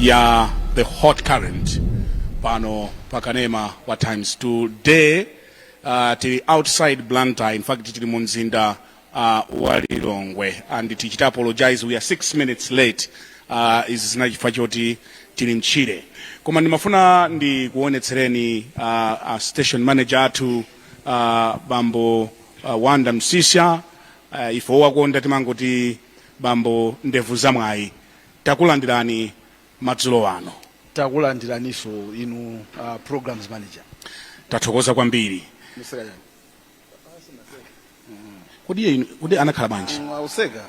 ya the hot current pano pakanema wa times today uh, tili outside blantyre in fact tili mu mzinda uh, wa lilongwe and tichita apologize we are six minutes late uh, izi zili chifukwa choti tili mtchire koma ndimafuna ndikuonetsereni uh, uh, station manager athu uh, bambo uh, Wanda Msisha uh, ife owakonda timangoti bambo ndevu zamwayi takulandirani madzulo ano takulandiraninso inu uh, programs manager tathokoza kwambiri kodi iye inu- kodi anakhala bwanji akuseka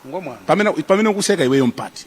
ngati mwana pamene pamene ukuseka iweyo mpati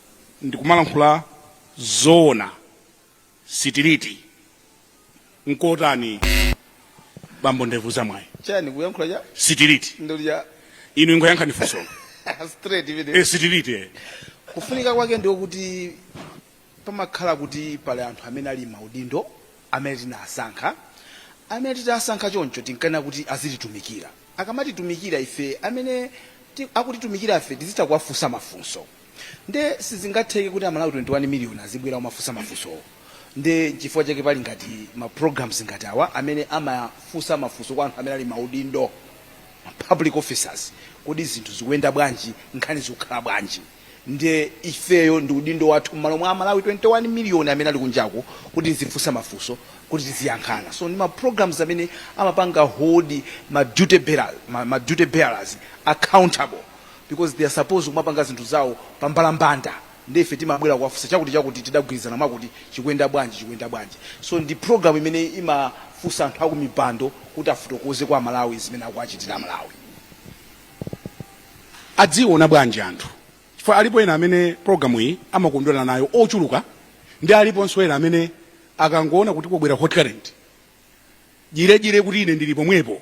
ndikumalankhula zoona sitiliti nkotani bambo ndevu zamwayi chani kuyankhula cha sitiliti ndiye inu ingoyankhani funso straight imene e sitiliti eh. kufunika kwake ndiwo kuti pamakhala kuti pali anthu amene ali m'maudindo amene tinasankha amene titasankha choncho tinkafuna kuti azititumikira akamatitumikira ife amene ti- akutitumikira ife tizitha kuwafunsa mafunso nde sizingatheke kuti amalawi 21 million azibwera kumafunsa mafunsowo nde chifukwa chake pali ngati ma programs ngati awa amene amafunsa mafunso kwa anthu amene ali m'maudindo ma public officers kodi zinthu zikuyenda bwanji nkhani zikukhala bwanji nde ifeyo ndi udindo wathu mmalo mwa amalawi 21 million amene ali kunjako kuti tizifunsa mafunso kuti tiziyankhana so ndi ma programs amene amapanga hold ma duty bearers, ma, ma duty bearers accountable because they are supposed kumapanga zinthu zawo pambalambanda nde ife timabwera kuwafunsa chakuti chakuti tidagwirizana mwakuti chikuyenda bwanji chikuyenda bwanji so ndi program imene imafunsa anthu akumipando kuti afotokoze kwa amalawi zimene akuwachitira amalawi aziiona bwanji anthu chifukwa alipo ena amene program iyi amakondwera nayo ochuluka ndi aliponso ena amene akangoona kuti kukubwera hot current jirejire kuti ine ndili pomwepo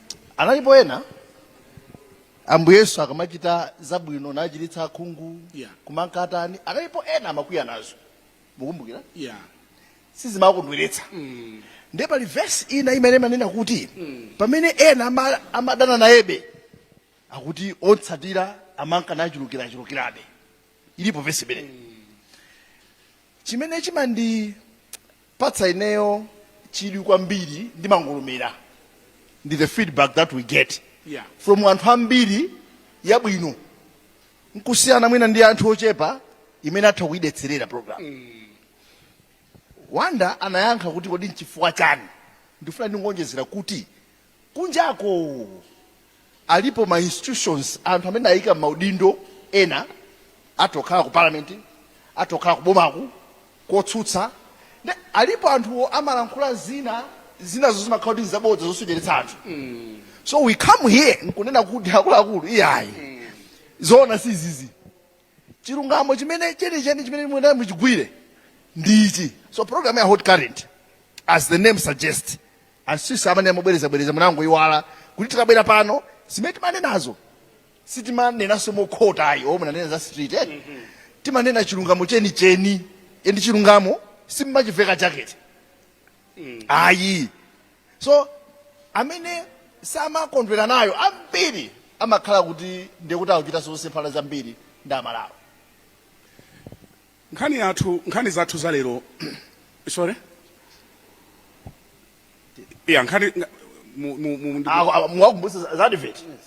analipo ena ambuye yesu akamachita zabwino nachiritsa akhungu Yeah. kumanka atani analipo ena amakwiya nazo mukumbukira yeah sizimakondweretsa ndiye pali vesi ina imene imanena kuti pamene ena ama- amadana nayebe akuti omutsatira amanka nachulukirachulukirabe ilipo vesi imeneyi Chimene chimandipatsa ineyo chidwi kwambiri ndi mangolomera ndi the feedback that we get yeah. from anthu ambiri yabwino nkusiyana mwina ndi anthu ochepa amene atha kuidetserera program mm. Wanda anayankha kuti kodi nchifukwa chani ndifuna ndingonjezera kuti Kunjako alipo ma institutions anthu amene ayikidwa mmaudindo ena atha kukhala ku parliament atha kukhala kubomaku kotsutsa nde alipo anthuwo amalankhula zina zinazo zimakhala kuti nzabodza zosocheretsa anthu so we come here nkunena kuti akuluakulu iyayi zoona sizizi. chilungamo chimene chenicheni chimene muyenera muchigwire ndi ichi so program ya hot current as the name suggests asisi amene amabwerezabwereza mwangoiwala kuti tikabwera pano zimene timanenazo sitimanenanso mokhota ayi oh no timanena za straight eh? timanena chilungamo chenicheni endi chilungamo sitimachiveka jekete ayi so amene samakondwera nayo ambiri amakhala kuti ndi kuti akuchita zosemphana zambiri ndi Amalawi nkhani yathu nkhani zathu za lero sorry ya nkhani mu- mu- mu- ndi- Aku- aku- muwakumbutse za- za advert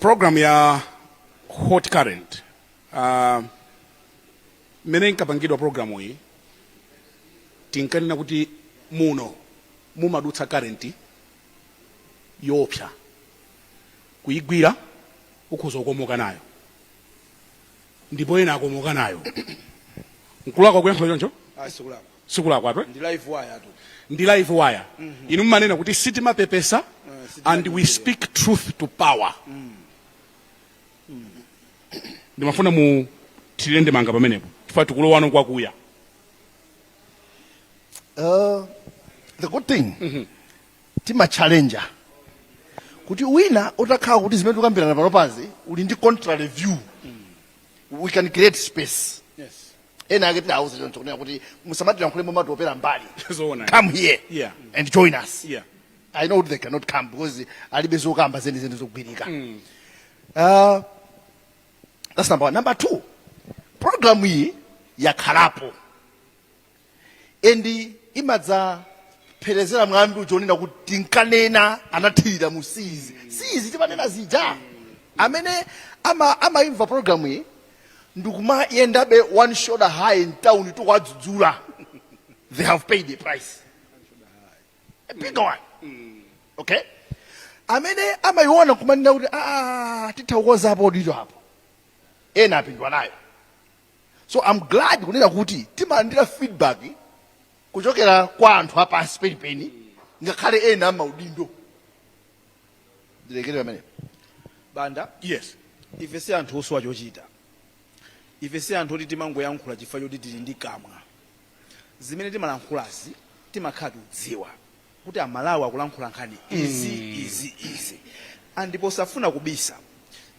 program ya hot current uh, mmene inkapangidwa programu iyi tinkanena kuti muno mumadutsa current yoopsa kuigwira ukhoza kukomoka nayo ndipo ena akomoka nayo nkulakwa kuyankhula choncho ah, sikulakwa twe ndi live wire mhm. inu mmanena kuti sitimapepesa eh, and we speak truth to power mm. Mm. ndimafuna muthirire ndemanga pamenepo chifukwa tikulowa mo kwakuya Uh, the good thing mm -hmm. timachallenja kuti wina utakhala kuti zimene tikukambirana panopazi uli ndi contrary view mm. we can create space yes. ena ake tidauza choncho kunena kuti musamatilankhule momatopera mbali come here yeah. and join us yeah. i know they cannot come because alibe zokamba zenizeni zogwirika mm. uh, That's number one. Number two, program iyi yakhalapo endi imadzapherezera mwambi wonena kuti tinkanena anathira mu si izi si izi timanena zija amene ama- amaimva programu iyi ndikumayendabe one shoulder high in town tikuwadzudzula they have paid the price mpingo wanu okay amene amayiona kumanena kuti aa titha kukonzapo ditu apo ena apindwa nayo so i'm glad kunena kuti timalandira feedback kuchokera kwa anthu apansi penipeni ngakhale ena amaudindo ndilekere pamenepo banda yes ife si anthu osowa chochita ife si anthu oti timangoyankhula chifukwa choti tili ndi kamwa zimene timalankhulazi timakhala tikudziwa kuti amalawi akulankhula nkhani izi mm. izi izi ndipo posafuna kubisa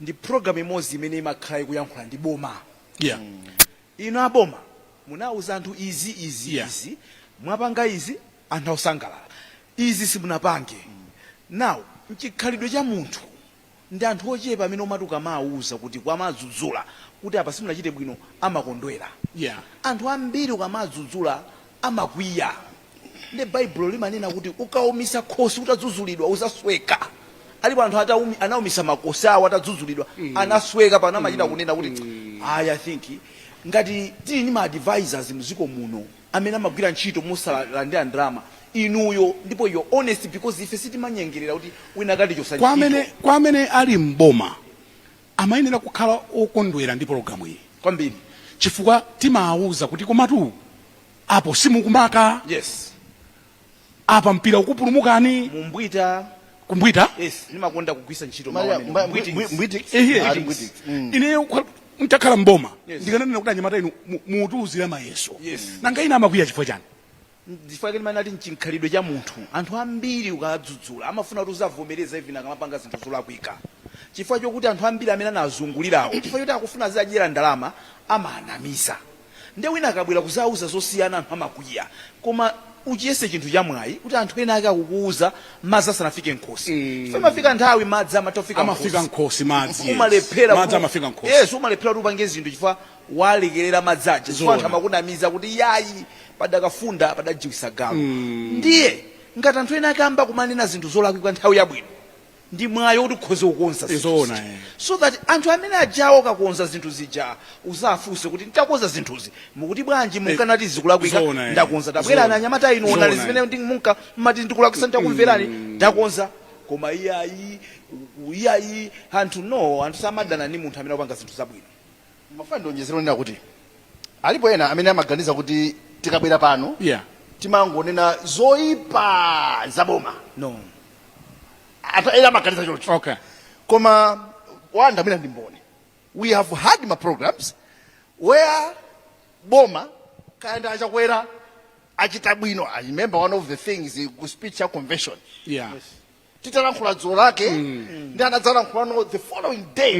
ndi program imodzi imene imakhala ikuyankhula ndi boma yeah. mm. inu aboma munauza anthu izi izi yeah. izi mwapanga izi anthu akusangalala izi simunapange mm. now mchikhalidwe cha munthu Ndi anthu ochepa amene umati ukamawuza kuti kumawadzudzula kuti apa simunachite bwino amakondwera. Yeah. Anthu ambiri ukamadzudzula amakwiya. Nde Baibulo limanena kuti ukawumisa khosi utadzuzulidwa uzasweka. Alipo anthu atawumi, anawumisa makosi awo atadzuzulidwa anasweka pano amachita kunena kuti I, I think ngati tili ndi ma advisors mziko muno amene amagwira ntchito mosalandira ndalama inuyo ndipo you're honest because ife sitimanyengerera kuti wina akatichosa Kwa amene, ntchito kwa amene ali m'boma amayenera kukhala okondwera ndi pologalamu iyi kwambiri chifukwa timawauza kuti komatu apo simukumaka yes apa mpira ukupulumukani mumbwita kumbwita yes ndimakonda kugwisa ntchito mawu Maya- amene. mba- Mbwiti. mbwi- mbwiti- Ehe. ah, mbwiti. Mm. ineyo kwa- mtakhala mboma Yes. ndikananena kuti anyamata inu mu- mukutiuzira mayeso Yes. nanga ena amakwiya chifukwa chani chifukwa chake ndimati mchikhalidwe cha munthu anthu ambiri ukadzudzula amafuna kuti uziwavomereza even akamapanga zinthu zolakwika chifukwa chokuti anthu ambiri amene anazungulirawo chifukwa choti akufuna aziwadyera ndalama amawanamiza Nde wina akabwera kuzauza zosiyana anthu amakwiya koma uchiyese chinthu chamwayi kuti anthu ena ake akukuuza madzi asanafike mkhosi chifukwa imafika nthawi madzi amatha kufika amafika mkhosi madzi umalephera madzi amafika mkhosi yes umalephera kuti upange zinthu chifukwa walekerera madzi aja chifukwa anthu amakunamiza kuti yayi padakafunda padajiwisa galu ndiye ngati anthu ena ake amba kumanena zinthu zolakwika nthawi yabwino ndi mwayi oti ukhoze kukonza zinthu Zoona, zija. eh. so that anthu amene ajawo akakonza zinthu zija uzafunse kuti ndakonza zinthuzi mukuti bwanji munkati zikulakwika Zoona, eh. ndakonza tabwerani Zoona. anyamata inu onani Zoona, zimene ndi- munka mmati ndikulakwisa ndakumverani ndakonza koma iyayi u- u- iyayi anthu no anthu samadana ndi munthu amene akupanga zinthu zabwino Ndimafuna ndionjezere ponena kuti alipo ena amene amaganiza kuti tikabwera pano yeah. timangonena zoipa za boma no. anthu ena amaganiza choncho okay. koma Wanda mwina ndi mboni we have had ma programs where boma kaya ndi achakwera achita bwino i remember one of the things ku speech ya convention yeah. yes. titalankhula dzulo lake ndi anadzalankhula nawo the following day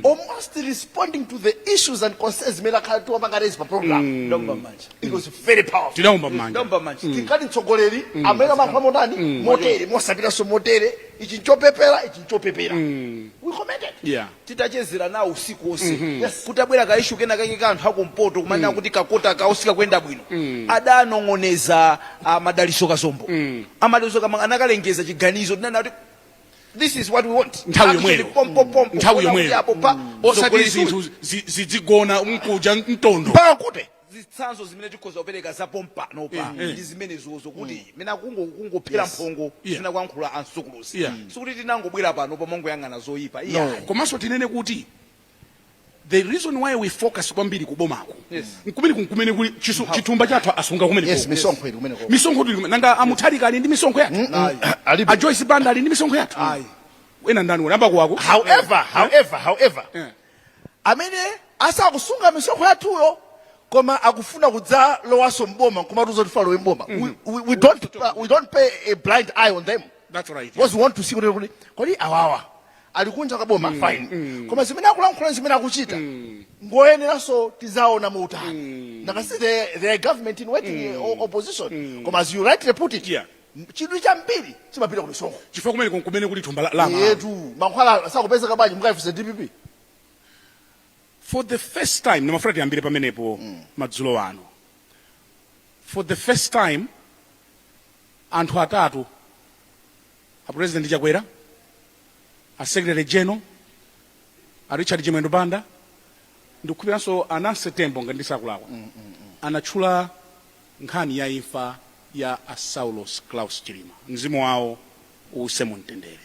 almost responding to the issues and concerns zimene takhala tikupanga raise pa program Kuomba manja. it was very powerful tinaomba manja Kuomba manja. tikati mtsogoleri amene amalankhula motani motere mosapitanso motere ichi nchopepera ichi nchopepera we commented yeah titachezera nawo usiku wonse kutabwera ka issue kenakake ka anthu akumpoto kumanena kuti ka kota kawo sikakuyenda bwino adanong'oneza a Madalitso Kazombo a Madalitso kama anakalengeza chiganizo tinanena kuti this is what we want nthawi Action, yomweyo pompo, pompo, nthawi kuona kuti yomweyo apo pa osati zogoneza. zinthu zi- zidzigona mkuja mtondo mpaka kuti zitsanzo zimene tikhoza kupereka za pompanopa Eh, eh. ndi zimenezozo kuti mwina kungo kungophera Yes. mphongo Yeah. zimene akuyankhula a Msukuluzi Yeah. sikuti tinangobwera pano kumangoyang'ana zoyipa iya no. komanso tinene kuti the reason why we focus kwambiri kubomako Yes. nkumene nkumene kuli chisu- chithumba chathu asunga kumene yes kuko. misonkho ili kumeneko misonkho ili kumene nanga a Mutharika ali ndi misonkho yathu Ayi. alipo a joyce banda ali ndi misonkho yathu Ayi. wina ndani Nankhumwa ako however however however Yeah. amene asakusunga misonkho yathuyo koma akufuna kudzalowanso mboma nkumatiuza kuti tidzalowe mboma mm -hmm. we, we, we, don't, we don't pay a blind eye on them That's right. Because we want to see kuti kuti kodi awawa ali kunja kwa boma mm, fine mm. koma zimene akulankhula zimene akuchita mm. ngoyeneranso tidzawaone motani mm. because it's the, the government in waiting mm. opposition mm. koma as you rightly put it yeah. M- chidwi chambiri chimapita ku misonkho chifukwa kumeneko nkumene kuli thumba la- la Amalawi eyetu mankhwala sakupezeka bwanji mukaifunse dpp for the first time ndimafuna tiyambire pamenepo madzulo ano for the first time anthu atatu a president chakwera a secretary general a richard chimwendo banda ndikukhupiranso a Nancy Tembo ngati sindikulakwa anatchula nkhani ya imfa ya a Saulos Klaus Chilima mzimu wawo uuse mu mtendere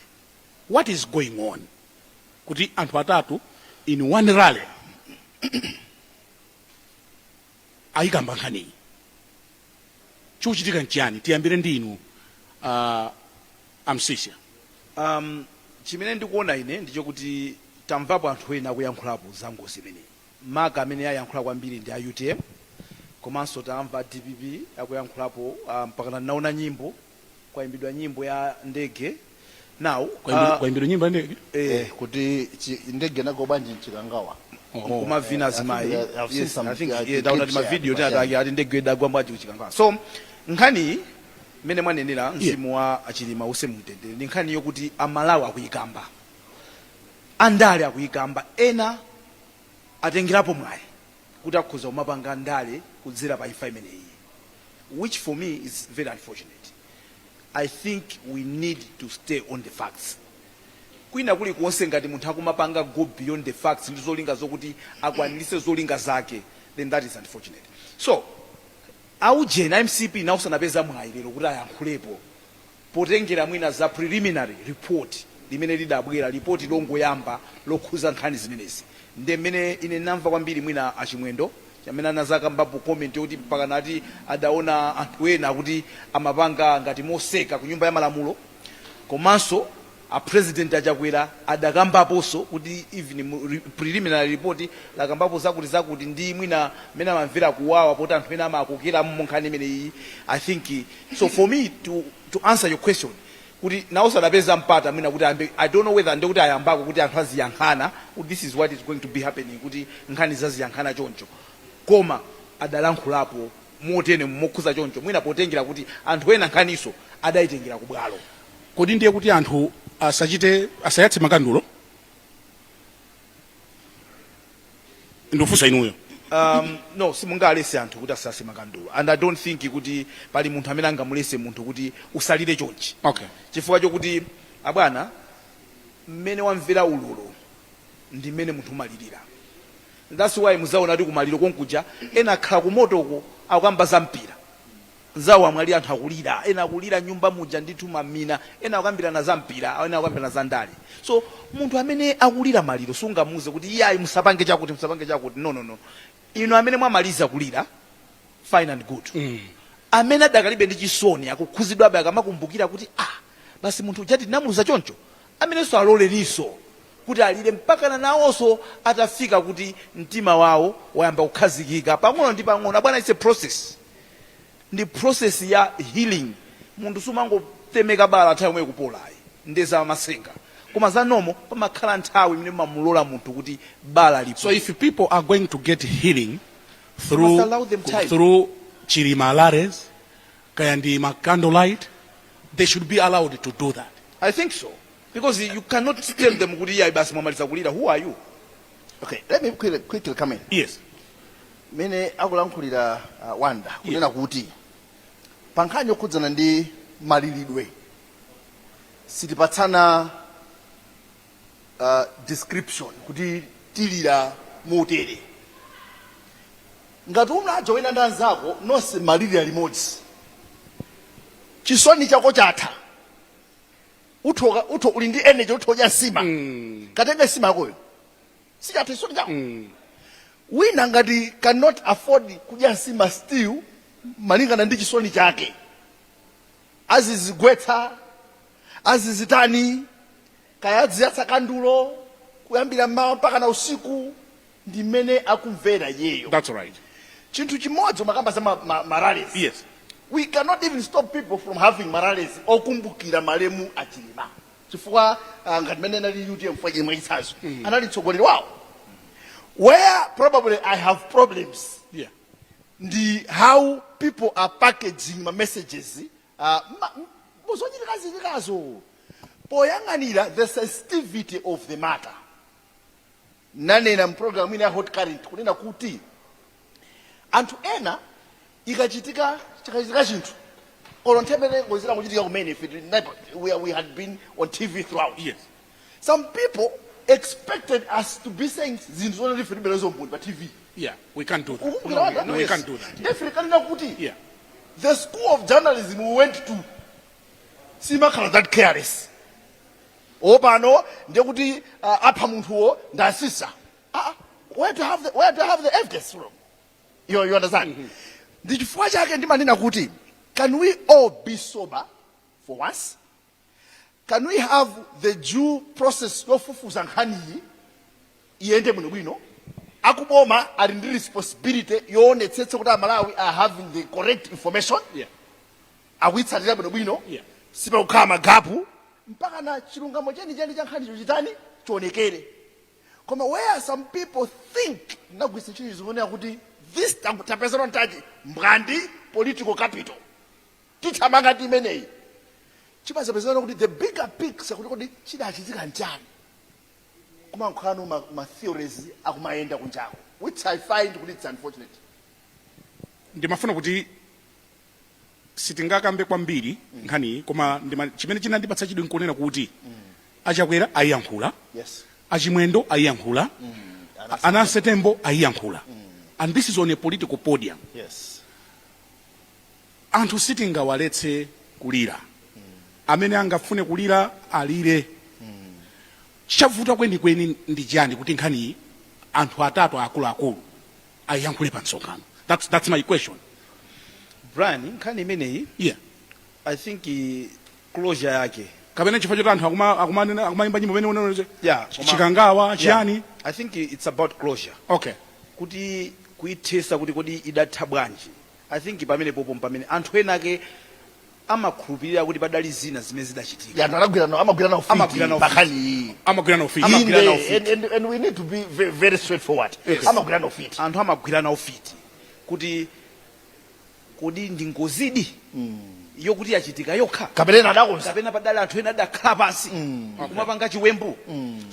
what is going on kuti anthu atatu in one rally ayikamba nkhaniyi chikuchitika nchiyani tiyambire ndi inu uh, a Msiska um, chimene ndikuona ine ndichokuti tamvapo anthu ena akuyankhulapo za ngozi imeneyi maka amene ayankhula kwambiri ndi a utm komanso tamva a dpp akuyankhulapo uh, mpakana naona nyimbo kwaimbidwa nyimbo ya ndege now Kwaimbidwa- uh, kwaimbidwa nyimbo ya ndege eh, kuti chi- ndege inagwa bwanji mchikangawa akumavina Eh, azimayi I think, uh, I've seen Yes, some, I think, uh, yeah, clips ndaona yeah, timavidiyo but, tinatake ati ndege idagwa bwanji kuchikangawa so nkhani mmene mwanenera mzimu wa achilima use mumtendere ndi nkhani yokuti amalawi akuyikamba andale akuyikamba ena atengerapo mwayi kuti akhoza kumapanga ndale kudzera pa imfa imeneyiyi which for me is very unfortunate. I think we need to stay on the facts. Kwina kulikonse ngati munthu akumapanga go beyond the facts ndi zolinga zokuti akwaniritse zolinga zake then that is unfortunate. So aujeni a mcp nawonso anapeza mwayi lero kuti ayankhulepo potengera mwina za preliminary report limene lidabwera, lipoti longoyamba lokhuza nkhani zimenezi, nde mmene ine namva kwambiri mwina a Chimwendo chamene anazakambapo comment yoti mpakana ati adaona anthu ena kuti amapanga ngati moseka ku nyumba ya malamulo komanso A president a Chakwera adakambaponso kuti even preliminary report lakambapo zakuti zakuti ndi mwina mmene amamvera kuwawa poti anthu ena amakokeramo munkhani imeneyiyi I think so for me to, to answer your question kuti nawonso adapeza mpata mwina kuti ayambe I don't know whether ndekuti ayambako kuti anthu aziyankhana kuti this is what is going to be happening kuti nkhani zake aziyankhana choncho koma adalankhulapo motene mokhuza choncho mwina potengera kuti anthu ena nkhaniso adayitengera kubwalo. Kodi ndiye kuti anthu asachite asayatse makandulo? Ndikufunsa inuyo. Um, no simungalese anthu kuti asayatse makandulo and i don't think kuti pali munthu amene angamulese munthu kuti usalire chonchi Okay. chifukwa chokuti abwana mmene wamvera ululu ndi mmene munthu umalirira that's why muzaona kuti kumaliro konkuja ena akhala kumotoku akukamba za mpira Nzawo amwalira anthu akulira, ena akulira m'nyumba muja ndithu mamina, ena akukambirana za mpira, ena akukambirana za ndale. So munthu amene akulira maliro sungamuuze kuti iyayi musapange chakuti musapange chakuti no no no. Inu amene mwamaliza kulira fine and good. Amene adakalibe ndi chisoni akukhuzidwabe akamakumbukira kuti ah basi munthu uja tinamuluza choncho amenewonso aloleninso kuti alire mpakana nawonso atafika kuti mtima wawo wayamba kukhazikika pang'ono ndi pang'ono abwana it's a process. ndi process ya healing munthu sumangotemeka bala nthawi yomweyo n'kupola ayi nde za masenga koma za normal pamakhala nthawi imene umamulola munthu kuti bala lipole So if people are going to get healing through must allow them time. through Chilima rallies, kaya ndi ma candlelight, they should be allowed to do that. i think so because you cannot tell them kuti iyayi basi mwamaliza kulira who are you Okay, let me quickly, quickly come in. Yes. Mene akulankhulira uh, Wanda kunena kuti pa nkhani yokhudzana ndi malilidwe sitipatsana uh, description kuti tilira motere ngati unajaa wena ndi anzako nonse mulilira limodzi chisoni chako chatha uthe uka- uthe uli ndi energy uthe kudya nsima katenge nsima yakoyo sichatha chisoni chako wina ngati cannot afford kudya nsima still malingana ndi chisoni chake azizigwetsa azizitani kaya aziyatsa kandulo kuyambira mmawa mpakana usiku ndi mmene akumvera iyeyo That's right. chinthu chimodzi umakamba za ma, ma, ma rallies Yes. we cannot even stop people from having ma rallies okumbukira malemu achilima chifukwa uh, ngati mene anali utm mwa chimwe chitsanzo anali mtsogoleri wawo where probably i have problems Yeah. ndi how people are packaging ma messages uh, ma- m- muzochitikachitikazo poyang'anira the sensitivity of the matter nanena m'programu ina ya Hot Current kunena kuti anthu ena ikachitika chikachitika chinthu olo nthawi ngozi yangochitika kumene ife tili naipa- we, are- we had been on tv throughout Yes. some people expected us to be saying zinthu zoti ife tilibe nazo umboni pa tv Yeah, we can't do that. ukumbukira No, we can't do that. definitely kunena kuti Yeah. the school of journalism we went to simakhala that careless oh pano ndiye kuti uh, apha munthuwo ndi asisa ah, ah, where do you have the, where do you have the evidence from you, you understand mm -hmm. ndi chifukwa chake ndimanena kuti can we all be sober for once can we have the due process yofufuza nkhaniyi iyende bwinobwino akuboma ali ndi responsibility yoonetsetsa kuti amalawi are having the correct information yeah. akuitsatira bwinobwino, sipakukhala magapu, mpakana chilungamo chenicheni cha nkhanicho chitani? chionekere. Koma where some people think, ndinagwiritsa ntchito chizungu kunena kuti this ta tapeza advantage, mbwandi political capital, tithamanga ndi imeneyi, chimadzapezeka no kuti the bigger picture kuti kodi chidachitika nchani, kumangokhala no ma ma theories akumayenda kunjako which I find kuti its unfortunate. Ndimafuna kuti sitingakambe kwambiri mm. nkhaniyi koma ndima, chimene chinandipatsa chidwi nkunena kuti mm. achakwera ayiyankhula yes. achimwendo ayiyankhula mm. anancy tembo ayiyankhula mm. and this is on a political podium yes. anthu sitingawaletse kulira mm. amene angafune kulira alire mm. chavuta kwenikweni ndi chani kuti nkhaniyi anthu atatu akuluakulu ayiyankhule pa msonkhano that's, that's my question brian nkhani imeneyi yeah i think i- closure yake kapena chifukwa choti anthu akuma- akumanena- akumayimba nyimbo imene unaonete yeah, koma- chikangawa yeah. chiyani i think i- it's about closure okay kuti kuithesa kuti kodi idatha bwanji I think pamenepopo mpamene anthu enaake amakhulupirira kuti padali zina zimene zidachitika. Anthu amagwirana, amagwirana ufiti Amagwirana pa ufiti. nkhani iyi. Amagwirana ufiti. Amagwirana Inde, ufiti. and- and- and we need to be ve- very straightforward. Yes. Amagwirana ufiti. anthu amagwirana ufiti kuti kodi ndi ngozidi yokuti yachitika yokha Kapena ena adakonza. kapena padali anthu ena adakhala pansi kumapanga chiwembu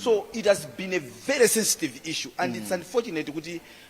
so it has been a very sensitive issue and it's unfortunate kuti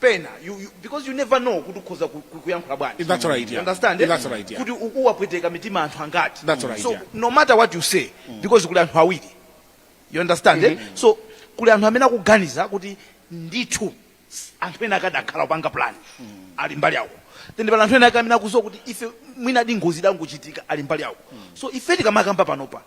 pena you, you, because you never know kuti ukhoza ku- ku- kuyankhula bwanji That's right, yeah. You understand eh? That's right, yeah. kuti ukuwapweteka mitima anthu angati That's right, so yeah. no matter what you say because kuli anthu awiri you understand eh? so kuli anthu amene akuganiza kuti ndithu s- anthu enaake adakhala kupanga plan ali mbali yawo then pali anthu ena ake amene akuziwa kuti ife mwina ndi ngozi idangochitika ali mbali yawo so ife tikamakamba panopa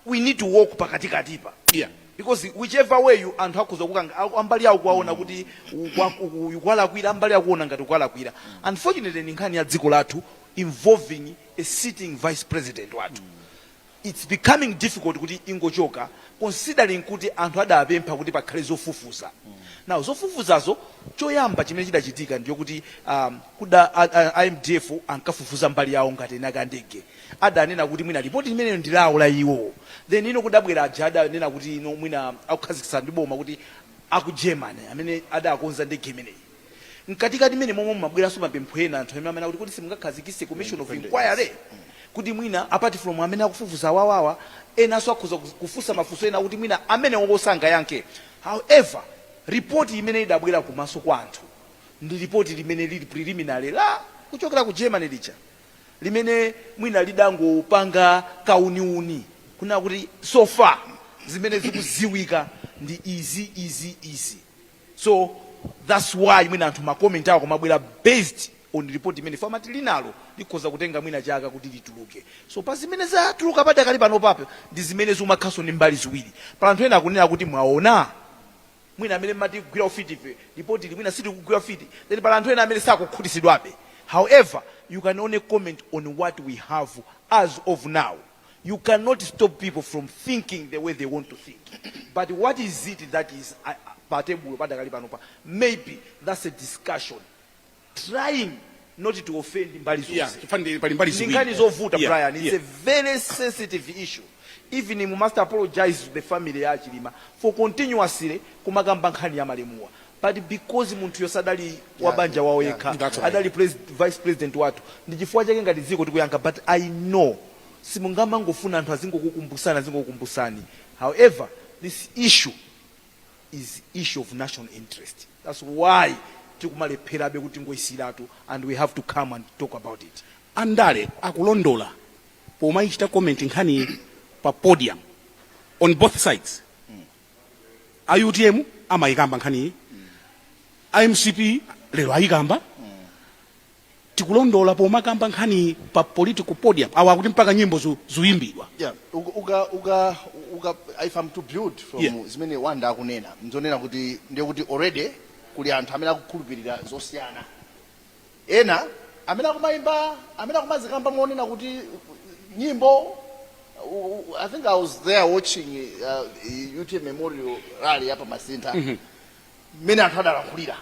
we need to walk pakatikatipa yeah. because whichever way you anthu akhoza kukanga aku- ambali yawo kuwaona kuti ukwa- uku- ukuwalakwira ambali akuona ngati ukuwalakwira unfortunately ni nkhani ya dziko lathu involving a sitting vice president wathu it's becoming difficult kuti ingochoka considering kuti anthu adapempha kuti pakhale zofufuza now zofufuzazo choyamba chimene chidachitika ndiyo kuti um, kuda a- a- a mdf ankafufuza mbali yawo ngati eni ake a ndege adanena kuti mwina lipoti limenelo ndi lawo la iwo then ino kudabwera aja adanena kuti ino mwina akukhazikitsa ndi boma kuti aku Germany amene adakonza ndege imeneyi mkatikati mmene momwe mumabweranso mapempho ena anthu amene amene akuti kodi simungakhazikitse commission of inquiry kuti mwina apart from amene akufufuza awawawa enanso akhoza kuf- kufunsa mafunso ena kuti mwina amenewowo sangayankhe however ripoti imene idabwera kumaso kwa anthu ndi ripoti limene lili preliminary la kuchokera ku Germany lija limene mwina lidangopanga kauniuni kunena kuti so far zimene zikuziwika ndi izi izi izi so thats why mwina anthu ma comment awo akumabwera based on report imene fo amati linalo likhoza kutenga mwina chaka kuti lituluke so pa zimene zatuluka padakali pano papo ndi zimene zikumakhalanso ndi mbali ziwiri pali anthu ena akunena kuti mwaona mwina amene mmati kugwira ufiti ife lipoti ili mwina sitikugwira ufiti then pali anthu ena amene sakukhutisidwabe however you can only comment on what we have as of now you cannot stop people from thinking the way they want to think but what is it that is uh, patebulo padakali panopa maybe that's a discussion trying not to offend mbali zonse Yeah, pali mbali ziwiri. chifukwa ndi- ndi nkhani zovuta brian Yeah, yeah. it's a very sensitive issue even you must apologize to the family ya achilima for continuously kumakamba nkhani ya malemuwa but because munthuyo sadali wa banja wawo yekha yeah, that's right. adali pres- vice president wathu ndi chifukwa chake ngati dziko tikuyankha but i know simungamangofuna anthu azingokukumbusani azingokukumbusani however this issue is issue of national interest thats why tikumalepherabe kutingoyisiyiratu and we have to come and talk about it andale akulondola pomayichita comment nkhaniyi pa podium on both sides a utm amayikamba nkhaniyi a mcp lero ayikamba tikulondola pomakamba nkhani pa political podium awa akuti mpaka nyimbo zu, zuyimbidwa Yeah, uka, uka, uka, uka, if I'm to build from Yeah. zimene Wanda akunena, nzonena kuti ndiye kuti already kuli anthu amene akukhulupirira zosiyana. Ena amene akumayimba, amene akumazikamba monena kuti nyimbo u- u- I think I was there watching uh, UTM Memorial Rally ya pa Masintha. Mmene anthu adalankhulira.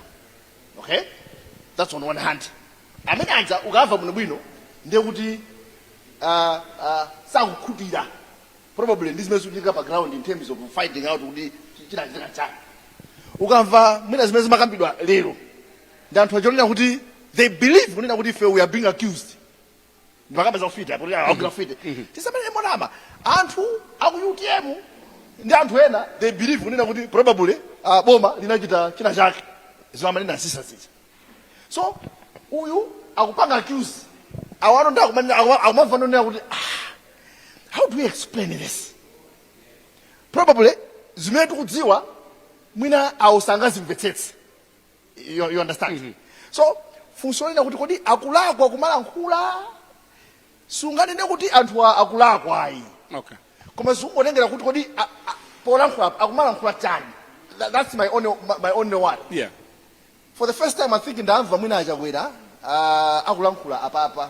okay that's on one hand amene aja ukamva bwinobwino ndiye kuti uh, uh, sakukhutira probably ndi zimene zikuchitika pa ground in terms of finding out kuti chi- chinachitika nchani ukamva mwina zimene zimakambidwa lero ndi anthu aja onena kuti they believe kunena kuti ife we are being accused ndipokamba za ufiti apo agwira ufiti tisamanene monama anthu aku utm ndi anthu ena they believe kunena kuti probably uh, boma linachita china chake zimamanenedwa zisa zija so uyu akupanga accuse awano ndi akumanena- akuma- akumamva nzonena kuti ah, how do we explain this probably zimene tikudziwa mwina awo sangazimvetsetse you, you understand mm -hmm. so funso lina kuti kodi akulakwa kumalankhula sunganene kuti anthu akulakwa ayi okay. koma zikungotengera kuti kodi polankhula akumalankhula chani that's my only, my only one yeah. for the first time i think ndamva mwina a Chakwera uh, akulankhula apapa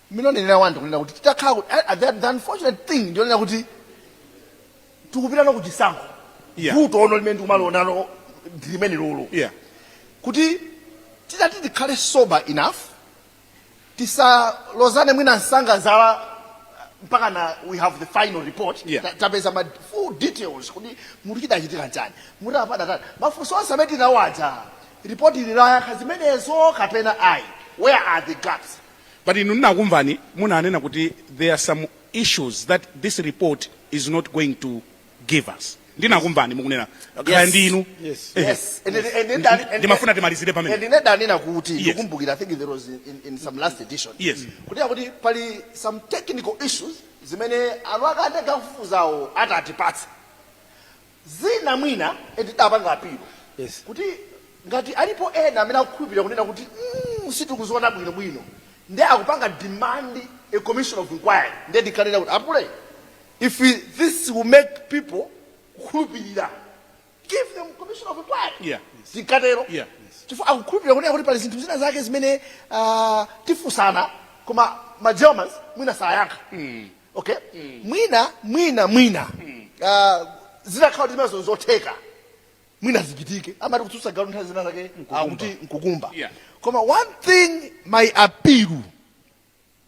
Mmene nanenera ndi kunena kuti titakhala kuti a- a- the, the unfortunate thing ndiyonena kuti tikupitano kuchisankho Yeah. vuto lonse limene ndikumalionalo ndi limenelolo yeah kuti titati tikhale sober enough tisalozane mwina msanga zala mpakana we have the final report Yeah. Ta- tapeza ma full details kuti muti chidachitika nchani muti apa adatani mafunso onse amene tinawo aja report ili layankha zimenezo kapena ayi where are the gaps But inu ndinakumvani munanena kuti there are some issues that this report is not going to give us. Ndinakumvani mukunena kaya Yes. ndinu. Yes. Ehe. Yes. And- and- and- and- and- Ndimafuna timalizire pamene. and ine ndanena kuti Yes. ndikumbukira i think there was in, in, in some last edition Yes. kuti akuti pali some technical issues zimene anthu akatenga kufufuzawo atatipatsa zina mwina and tidapanga appeal Yes. kuti ngati alipo ena amene akukhulupirira kunena kuti mm, sitikuziona bwino bwino nde akupanga demand a commission of inquiry nde ndinanena kuti apule if this will make people kukhulupirira give them commission of inquiry Yeah. zikatero Yeah. chifukwa akukhulupirira kunena kuti pali zinthu zina zake zimene ah, tifusana koma ma germans mwina sayankha okay mwina mwina mwina ah, zitakhala kuti zimenezo n'zotheka mwina zichitike amati kutsutsa galu nthawi zina zake akuti n'kukumba Yeah. koma one thing my appeal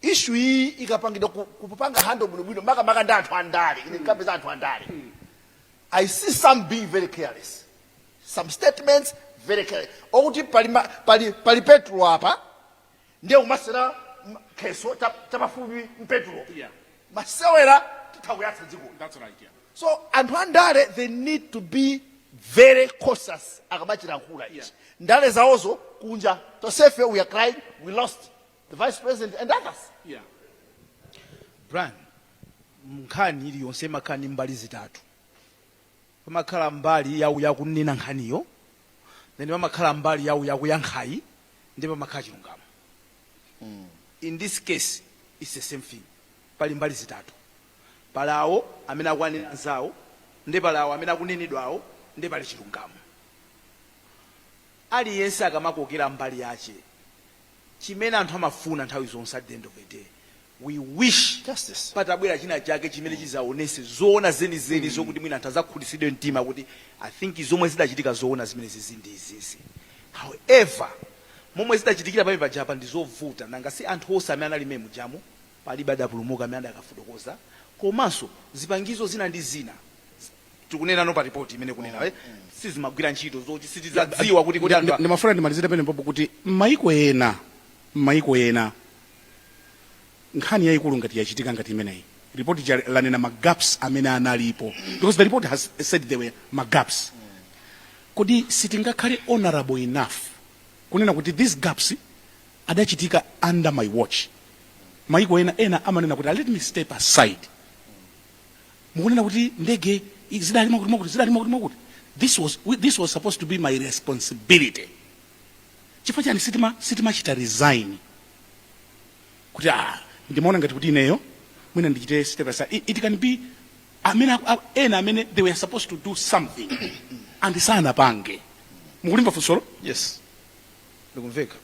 issue iyi ikapangidwa ku- kupanga handle bwinobwino makamaka ndi anthu andale ine ndikapeza anthu andale i see some being very careless some statements very careless okuti pali, ma- pali, pali petrol apa ndiye kumasewera m- kheso cha- chapafupi m'petulo Yeah. masewera titha kuyatsa dziko That's right. Yeah. so anthu andale they need to be very cautious akamachiyankhula ichi Yeah. ndale zawozo kunja tonsefe we are crying we lost the vice president and others Yeah. Brian nkhani iliyonse imakhala ndi mbali zitatu Pamakhala mbali ya uyo akunena nkhaniyo, then pamakhala mbali ya uyu akuyankhayu, ndiye pamakhala chilungamo. In this case it's the same thing, pali mbali zitatu, pali awo amene akuwanena anzawo, ndiye pali awo amene akunenedwawo, ndiye pali chilungamo. Aliyense akamakokera mbali yache. chimene anthu amafuna nthawi zonse at the end of the day we wish Justice. patabwera china chake chimene chizaonese zoona zenizeni zokuti mwina anthu azakhutitsidwe mtima kuti i think zomwe zidachitika zoona zenizenizi ndi izizi however momwe zidachitikira pamene pajapa ndi zovuta nanga si anthu onse amene anali mmene mujamu Palibe adapulumuka amene adakafotokoza komanso zipangizo zina ndi zina tikunenano pa report imene ikunena sizimagwira ntchito zoti sitidzadziwa kuti kodi anthu. Ndimafuna ndimalizire penepopo kuti m'maiko ena m'maiko ena nkhani yaikulu ngati yachitika ngati imeneyi report lija lanena ma gaps amene analipo because the report has said there were ma gaps kodi sitingakhale honorable enough kunena kuti these gaps adachitika under my watch mayiko ena ena amanena kuti let me step aside mukunena kuti ndege i- zidali mwakuti mwakuti zidali mwakuti mwakuti this was, we- this was supposed to be my responsibility chifukwa chani sitima sitimachita resign kuti ah, ndimaona ngati kuti ineyo mwina ndichite step aside it, it can be amene aku- a- ena amene they were supposed to do something and sanapange mukulimva funsolo yes likumveka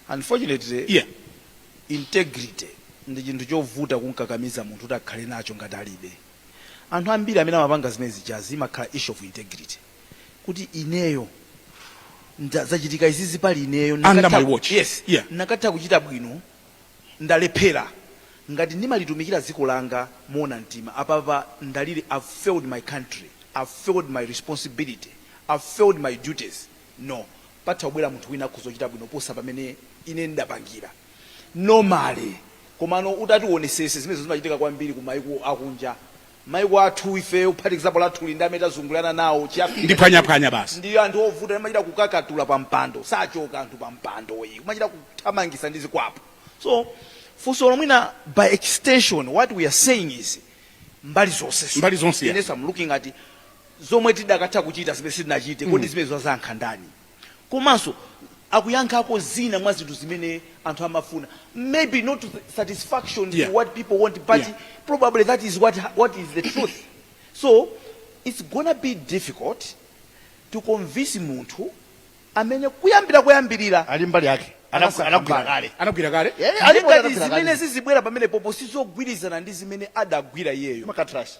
unfortunately yeah. integrity ndi chinthu chovuta kumkakamiza munthu kuti akhale nacho ngati alibe anthu ambiri amene amapanga zimene zijazi imakhala issue of integrity kuti ineyo nda- zachitika izizi pali ineyo Under nakatha- my watch. yes Yeah. ndikatha kuchita bwino ndalephera ngati ndimalitumikira dziko langa moona mtima apapa ndalili i've failed my country i've failed my responsibility i've failed my duties No. Patha kubwera munthu wina akhoza kuchita bwino kuposa pamene ine ndapangira. Normally. Komano utati uonesese zimenezo zimachitika kwambiri ku maiko akunja. Maiko athu ifeyo kuphatikizapo lathuli ndi amene tazungulirana nawo chi Africa Ndi chathu phwanyaphwanya basi. ndi anthu ovuta timachita kukakatula pa mpando. Sachoka anthu pa mpando ayi. Kumachita kuthamangisa ndi zikwapu. So funsolo mwina by extension what we are saying is mbali zonse. Mbali zonse, yeah. Inenso am looking at zomwe tidakatha kuchita zimene sitinachite kodi mm. zimenezo azayankha ndani komanso akuyankhako zina mwa zinthu zimene anthu amafuna maybe not satisfaction yeah. what people want but yeah. probably that is what, what is the truth so it's gonna be difficult to convince munthu amene kuyambira kuyambirira ali mbali yake anagwira kale anagwira kale ngati zimene zizibwera pamene popo sizogwirizana ndi zimene adagwira iyeyo makatrash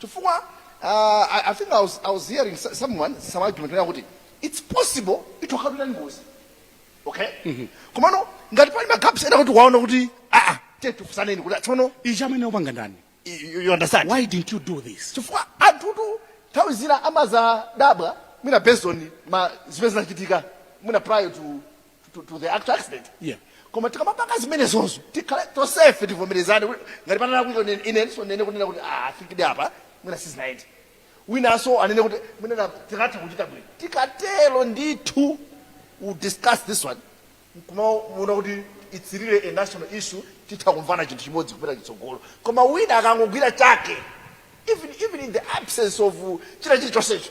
chifukwa uh, I, I think I was, I was hearing so- someone some argument kunena kuti it's possible ithu idakhala ili ngozi okay komano ngati pali magaps ena kuti waona kuti aa tiye tifunsaneni kuti tsono ichi amene wapanga ndani you- you you understand why didn't you do this chifukwa anthutu nthawi zina amazadabwa mwina based on zimene zinachitika mwina prior to to, to the actual accident yeah koma tikamapanga zimenezonso tikhale tonsefe tivomerezane kuti ngati panonso kuti inenso ndinene kunena kuti ah, a a ifetu apa mwina sizinaende winanso anene kuti mwina tikadatha kuchita bwino tikatero ndithu we discuss this one kumaona kuti it's really a national issue titha kumvana chinthu chimodzi kupita chitsogolo koma wina akangogwira chake even, even in the absence of uh, china chilichonsecho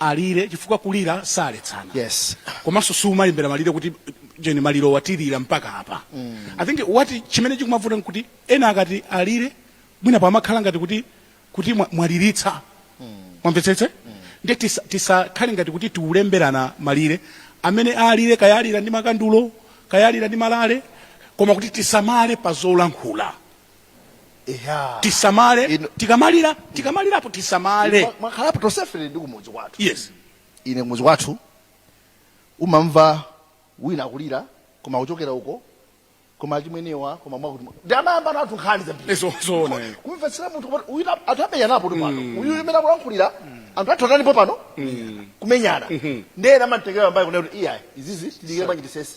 alire chifukwa kulira saletsana yes. komanso siumalembera malire kuti ujeni maliro watilira mpaka apa mm. i think what chimene chikumavuta n'kuti ena akati alire mwina pamakhala ngati kuti kuti mwa- mwaliritsa mm. mwamvetsetsa mm. nde tisa- tisakhale ngati kuti tikulemberana malire amene alire kaya alira ndi makandulo kaya alira ndi malale koma kuti tisamale pa zolankhula Eya. tisamale Inu- tikamalira tikamalirapo tisamale Mwa- mwakhalapo tonsefe ndi kumudzi kwathu yes ine kumudzi kwathu umamva wina akulira koma kuchokera uko koma achimwenewa koma mwakuti nde amayambanatu nkhani zambiri Ezo- zoona, eh. kumvetsera munthu kuti uyu na- anthu amenyanapotu pano uyu mmene akulankhulira anthu athu atanipo pano kumenyana nde ena amamutengera pambali kunena kuti iyayi izizi tidikire bwanji tisese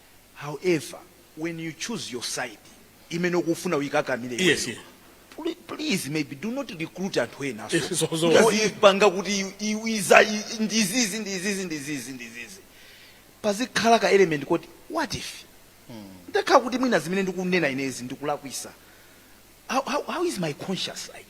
however when you choose your side imene ukufuna uyikakamile iweyo Yes, yeah. pl- please maybe do not recruit anthu enanso Yes, so- so- oipanga kuti i- i- iza i- ndizizi ndizizi ndizizi ndizizi pazikhala ka element koti what if ndakhala kuti mwina zimene ndikunena inezi ndikulakwitsa how, how, how is my conscience like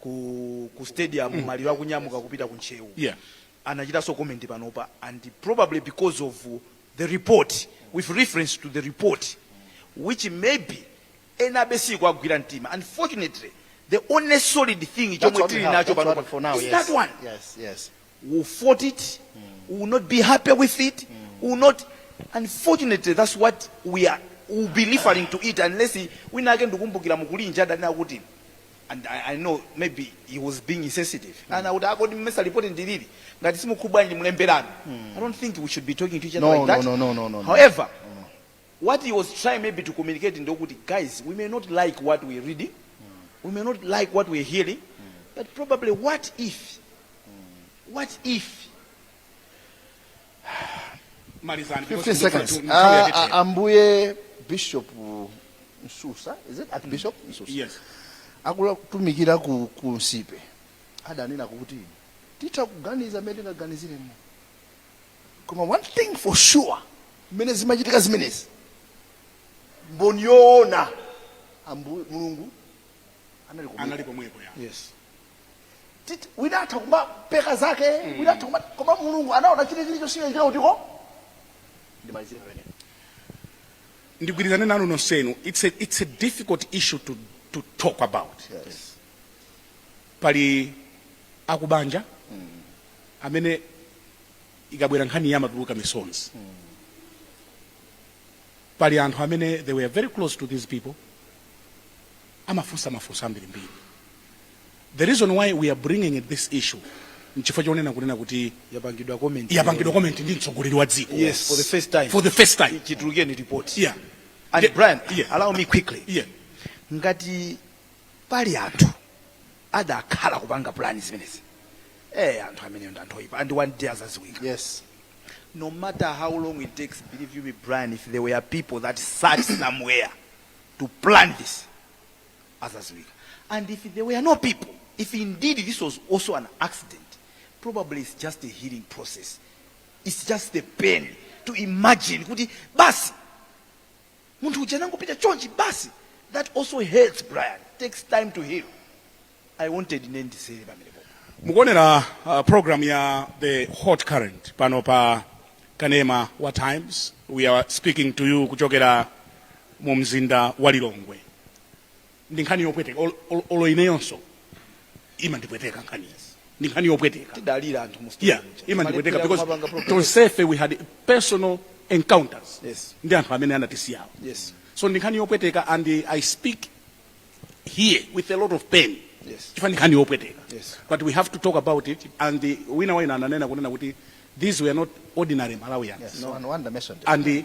ku, ku stadium mm. maliro akunyamuka kupita ku ntcheu yeah. anachitanso comment panopa and probably because of the report with reference to the report which maybe enabe siikuwagwira mtima unfortunately the only solid thing chomwe tili nacho panopa is that one yes, yes. will fought it mm. will not be happy with it mm. will not unfortunately that's what we are will be referring to it unless wina ake ndikumbukira mukulinja adanena kuti and I, I know maybe he was being insensitive mm. and I would akodi mmesa report ndilili ngati simukhubwa ndi mlemberani mm. I don't think we should be talking to each other no, like that no, no, no, no, no, however no. what he was trying maybe to communicate ndi okuti guys we may not like what we reading we may not like what we're hearing but probably what if what if malizani 15 seconds. Ah, ah, Ambuye Bishop Msusa, is it Archbishop Msusa? yes Akutumikira ku ku Nsipe. Adanena kuti titha kuganiza mmene tingaganiziremo. koma one thing for sure mmene zimachitika zimenezi mboni yoona ambu- mulungu anali kumwamba. anali pomwepo ya yes Titi- wina atha kumapeka zake wina atha kuma- koma mulungu anaona chili- chilichonse chinachitika kutiko ndimalizire pamene ndigwirizane nanu nonsenu it's a, it's a difficult issue to, to talk about yes pali akubanja amene ikabwera nkhaniyi amatuluka misozi pali anthu amene they were very close to these people amafunsa mafunso ambirimbiri the reason why we are bringing it this issue nchifukwa chonena kunena kuti yapangidwa comment yapangidwa comment ndi mtsogoleri wa dziko yes for the first time for the first time chitulukeni report yeah and Brian yeah. allow me quickly yeah ngati pali anthu adakhala kupanga pulani zimenezi eh anthu ameneyo ndi anthu oyipa and one day azaziwika yes no matter how long it takes believe you me brian if there were people that sat somewhere to plan this azaziwika and if there were no people if indeed this was also an accident probably it's just a healing process it's just the pain to imagine kuti basi munthu uja anangopita chonchi basi that also hurts brian takes time to heal i wanted ine ndisere pamenepo mukuonera uh, programu ya the hot current pano pa kanema wa times we are speaking to you kuchokera mu mzinda wa lilongwe ndi nkhani yopweteka olo- olo- olo ineyonso imandipweteka nkhani iyi ndi nkhani yopweteka tidalira anthu mu yeah imandipweteka because tonsefe we had personal encounters Yes. ndi anthu amene anatisiyawo yes so ndi nkhani yopweteka and uh, i speak here with a lot of pain Yes. chifukwa ndi nkhani yopweteka Yes. but we have to talk about it and uh, wina waina ananena kunena kuti these were not ordinary malawians Yes, no one mentioned it. and uh,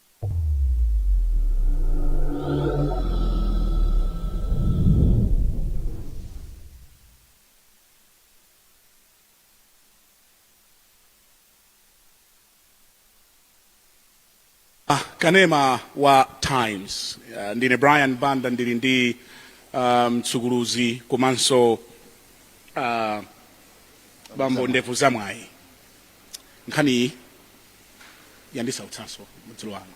kanema wa times uh, ndine brian banda ndili ndi mtsukuluzi um, komanso uh, bambo ndevu zamwayi nkhaniyi yandisautsanso mudzulo wano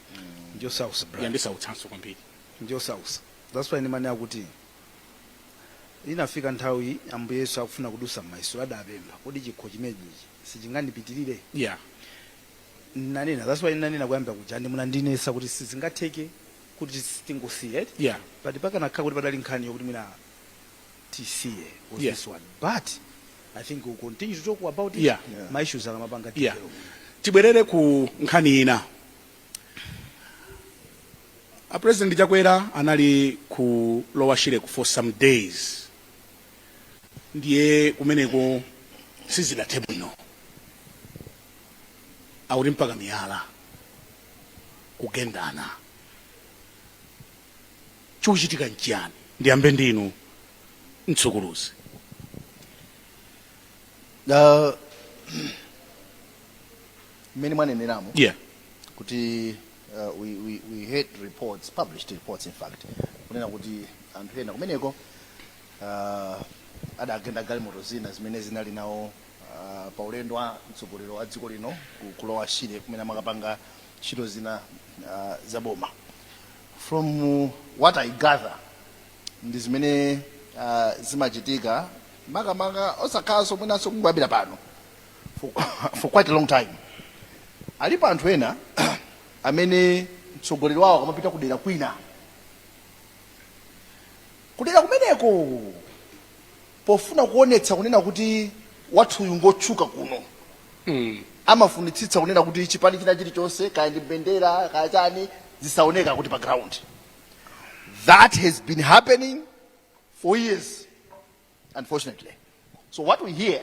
njosautsa brian yandisautsanso kwambiri njosautsa that's why ndimanena kuti inafika nthawi ambuye yesu akufuna kudutsa m'mayeso adapempha kodi chikho chimenechi sichingandipitirire yeah nanena that's why nanena kuyamba kuja ndi munandinetsa kuti sizingatheke kuti tingoisiya eti yeah pati pakanakhala kuti padali nkhani yokuti mwina tisiye was Yeah. this one but i think we'll continue to talk about it Yeah. Yeah. ma issues akamapanga yeah. tibwerere ku nkhani ina a president chakwera anali ku lower shireko for some days ndiye kumeneko sizidathe bwino akuti mpaka miyala kugendana chikuchitika nchiyani ndiyambe ndinu mtsukuluzi Ah, mmene mwaneneramo yeah kuti uh, we, we, we heard reports published reports in fact kunena kuti anthu ena kumeneko uh, adagenda galimoto zina zimene zinali nawo pa ulendo wa mtsogoleri wa dziko lino ku lower shire kumene amakapanga ntchito zina uh, za boma from uh, what i gather ndi zimene uh, zimachitika makamaka osakhalanso mwinanso kungoyambira pano for, for quite a long time alipo anthu ena amene mtsogoleri wawo akamapita kudera kwina kudera kumeneko pofuna kuonetsa kunena kuti wathuyu ngotchuka kuno mm. amafunitsitsa kunena kuti chipani china chilichonse kaya ndi mbendera kaya chani zisaoneka kuti pa ground that has been happening for years unfortunately so what we hear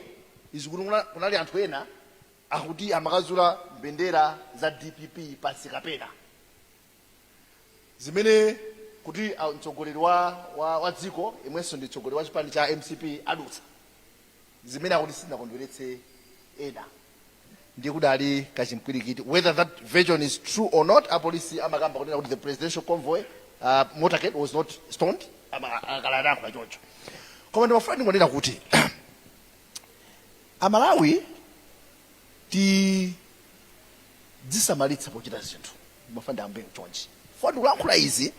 is kuti kunali anthu ena akuti amakazula mbendera za dpp pansi kapena zimene kuti ah, mtsogoleri wa, wa, wa dziko yemwenso ndi mtsogoleri wa chipani cha mcp adutsa zimene akuti sizinakondweretse ena ndiye kudali kachimpwirikiti whether that version is true or not apolisi amakamba kunena kuti the presidential convoy uh, motorcade was not stoned Ama- akala anayankhula choncho koma ndimafuna ndingonena kuti amalawi tidzisamalitsa pochita zinthu ndimafuna ndiyambe chonchi chifukwa ndikulankhula izi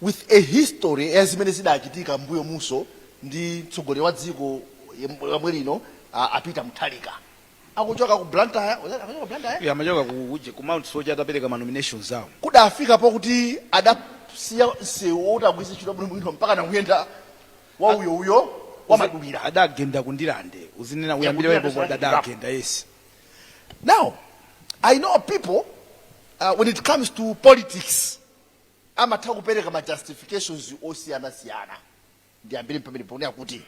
with a history ya zimene zidachitika mbuyo muso ndi mtsogoleri wa dziko yem- yomwe lino a- a Peter Mutharika akuchoka ku blantyre akuchoka ku blantyre Yeah, amachoka ku uje ku Mount Soche atapereka ma nominations awo. kudafika pokuti adasiya msewu oti agwiritse ntchito bwinobwino mpaka nakuyenda wa uyo uyo wa Uzi- madulira adagenda ku Ndirande uzinena Yeah, uyambire ku Ndirande wepo sasa adagenda yes now i know people uh, when it comes to politics amatha kupereka ma justifications osiyanasiyana ndiyambire pamene ponena kuti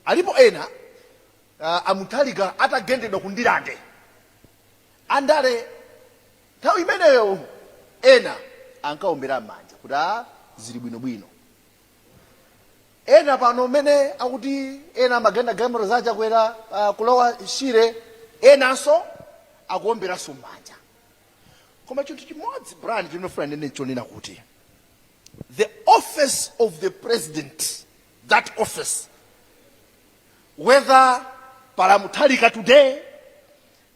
alipo ena uh, a Mutharika atagendedwa ku Ndirande andale nthawi imeneyo ena ankaombera m'manja kuti a zili bwinobwino ena pano mmene akuti ena amagenda galimoto za chakwera uh, ku Lower Shire enanso akuomberanso mmanja koma chinthu chimodzi brian chimene ndifuna ndinene n'chonena kuti the office of the president that office whether pali a Mutharika today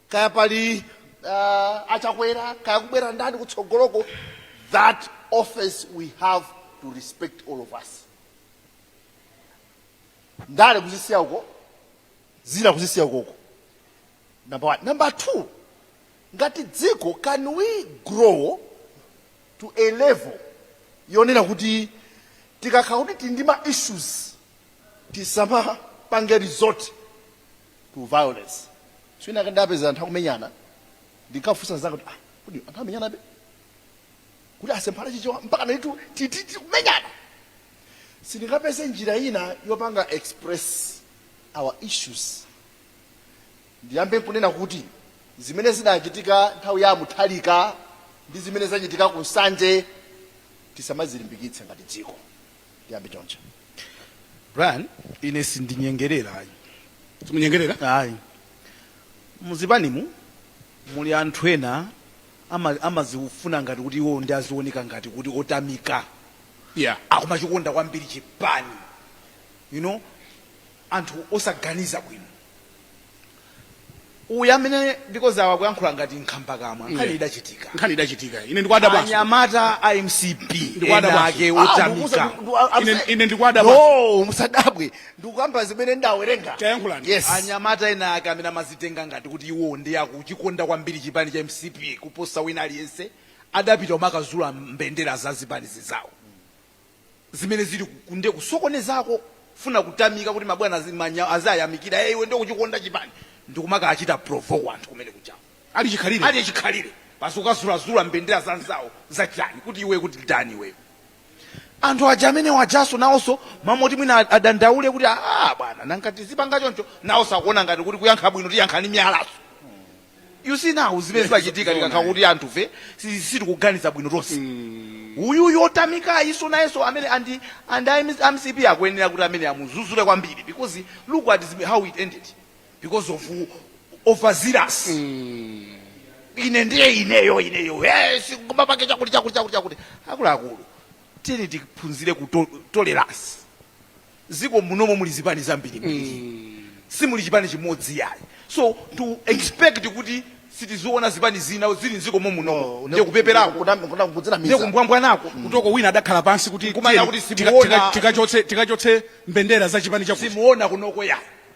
kaya pali uh, a Chakwera kaya kubwera ndani kutsogoloko that office we have to respect all of us ndale kuzisiya uko zina kuzisiya ukoko number one number two ngati dziko can we grow to a level yonena kuti tikakhala kuti tili ndi ma issues tisamapange resort to violence tsiku lina ndidapeza anthu akumenyana ndinkafunsa nzanga kuti ah kodi anthu amamenyanabe kuti asemphana chichewa mpaka n'kuyamba kumenyana sitingapeze njira ina yopanga express our issues ndiyambe nkunena kuti zimene zidachitika nthawi ya a Mutharika ndi zimene zachitika ku nsanje tisamazilimbikitse ngati dziko ndiyambe choncho brian ine sindinyengerera ayi simunyengerera ayi muzipanimu muli anthu ena ama- amazifuna ngati kuti iwo ndi azioneka ngati kuti otamika yeah akumachikonda kwambiri chipani you know anthu osaganiza bwino uyu amene because awa akuyankhula ngati nkhambakamwa nkhani idachitika nkhani idachitika ine ndikwada basi anyamata a mcp Ndikwada ena basi. ake Ah, otamika ndikukuza- ndu- ah, I'm Ine- saying- ine ndikwada basi. No, musadabwe ndikukamba zimene ndawerenga Tayankhulani. yes anyamata ena ake amene amazitenga ngati kuti iwo ndi akuchikonda kwambiri chipani cha mcp kuposa wina aliyense adapita umakazula mbendera za zipani zinzawo zimene zili ku nde kusokonezako kufuna kutamika kuti mabwana aziyamikira ee iwe nde ukuchikonda chipani ndikumakachita provoke anthu kumene kujako Ali chikhalire. ali chikhalire basi kukazulazula mbendera za anzawo za chani kuti iwe kuti ndani iweyo anthu aja amene ajanso nawonso mmalo moti mwina ad- adandaule kuti aa bwana nanga tizipanga choncho nawonso akuona ngati kuti kuyankha bwino tiyankha ni miyalaso you see now zimene zimachitika tikakhala kuti anthufe si- sitikuganiza bwino tonse uyu otamikayuso nayenso amene andi and a mcp akuyenera kuti amene amuzuzule kwambiri because look at zime- how it ended because of overzealous ine ndiye ineyo ineyo Eh, si- koma pake chakuti chakuti chakuti chakuti akuluakulu tiyeni tiphunzire ku tolerance ziko munomo muli zipani zambirimbiri simuli chipani chimodzi yayi so to expect kuti sitiziona zipani zina zili mziko momunomo ndiye kupeperako Kuna- kuna- ndiye kudzinamiza kumbwambwanako kutoko wina adakhala pansi kuti Nkumana tiyeni, kuti tika- simuona. tika- tikachotse tikachotse mbendera za chipani chakuti simuona kunoko yayi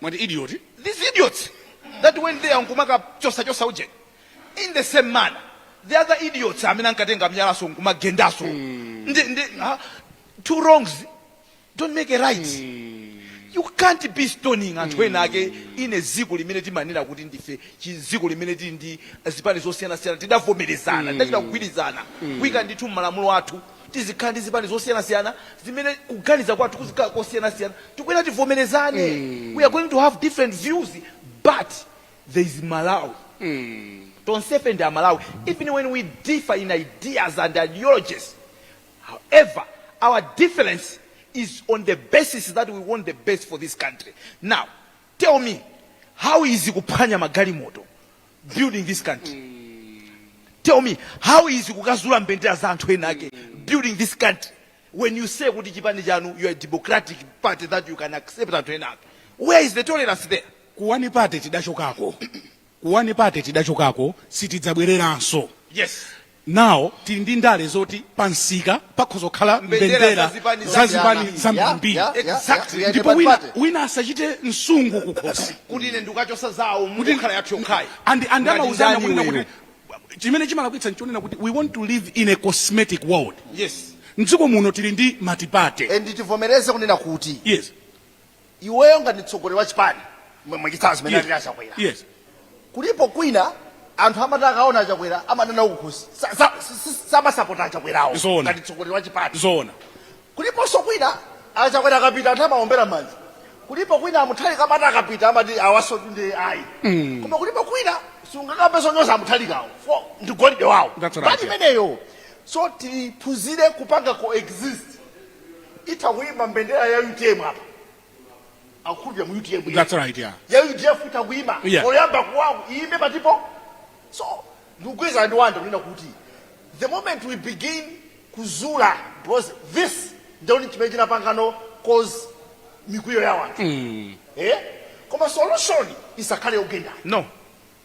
mwati idiot these idiots that went there nkumakachosachosa ujeni in the same manner the other idiots amene ankatenga miyalaso nkumagendaso ndi ndi ah, two wrongs don't make a right you can't be stoning anthu ena ake in a ziko limene timanena kuti ndife chiziko limene tili ndi zipani zosiyanasiyana tidavomerezana tidachita kugwirizana kuika ndithu mmalamulo athu Tizikhala ndi zipani zosiyanasiyana zimene kuganiza kwathu kuzikhala kosiyanasiyana. Tikuyenera tivomerezane. We are going to have different views but there is Malawi. Tonsefe ndi Amalawi even when we differ in ideas and ideologies however our difference is on the basis that we want the best for this country. Now tell me how is kuphwanya magalimoto, building this country tell me how is kukazula mbendera za anthu ena ake building this country when you say kuti chipani chanu you are a democratic party that you can accept anthu ena ake where is the tolerance there ku one party tidachokako ku one party tidachokako sitidzabwereranso yes Now tili ndi ndale zoti pa msika pakhoza kukhala mbendera za zipani zambiri. Exactly. ndipo wina asachite msungu kukhosi kuti ine ndikukachosa zawo mukhala yathu yokhayi and amauzana kuti chimene chimalakwitsa nchonena kuti we want to live in a cosmetic world yes mdziko muno tili ndi matipate and tivomereze kunena kuti yes iweyo ngati mtsogoleri wa chipani mwe- mwachitsanzo zimene Yes. alili a Chakwera Yes. kulipo kwina anthu amati akaona a Chakwera amanena zakukhosi samasapota a Chakwerawo Zoona. ngati mtsogoleri wa chipani Zoona. kuliponso kwina a Chakwera akapita anthu amaombera manja kulipo kwina a Mutharika amati akapita amati awasotu ndi ayi koma kulipo kwina sungakambenso zonyoza a Mutharikawo ndi golide wawo That's right, mbali yeah. imeneyo so tiphunzire kupanga coexist itha kuyima mbendera ya UTM apa akukhulupira mu UTM yekha. That's right, yeah. ya UDF itha kuyima Yeah. poyamba kuwaku iyime patipo so ndikugwirizana ndi Wanda kunena kuti the moment we begin kuzula because this ndiye chimene chinapanganso cause mikwiyo ya wanthu eh? koma solution isakhale yogendana No.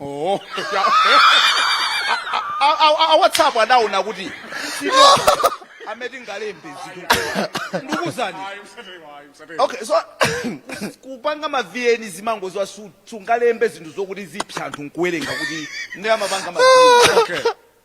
Oh, ya. A- a- a- a WhatsApp adaona kuti si amene tingalembe zinthu ndikuuzani okay so kupanga ma vn zimangodziwa sungalembe zinthu zokuti zipsa anthu nkuwerenga kuti nde amapanga ma okay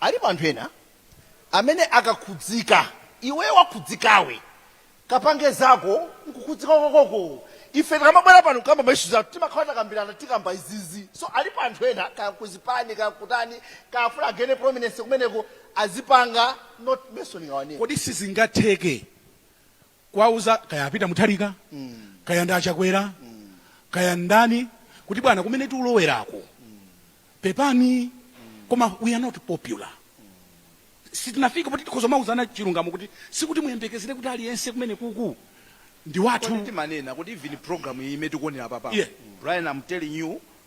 Alipo anthu ena amene akakhudzika iwe wakhudzikawe kapange zako mkukhudzika kwakoko ife tikamabwera pano kukamba ma issues athu timakhala takambirana tikamba izizi so alipo anthu ena kaya kuzipani kaya kutani kaya afuna againe prominence kumeneko azipanga not mentioning our name. Kodi sizingatheke kuwauza kaya a Peter Mutharika kaya ndi a Chakwera kaya ndani kuti bwana kumene tiulowerako pepani koma we are not popular sitinafika poti tikhoza kumauzana chilungamo kuti sikuti muyembekezere kuti aliyense kumene kuku ndi wathu timanena kuti even program iyi imene tikuonera papa Yeah. Brian I'm telling you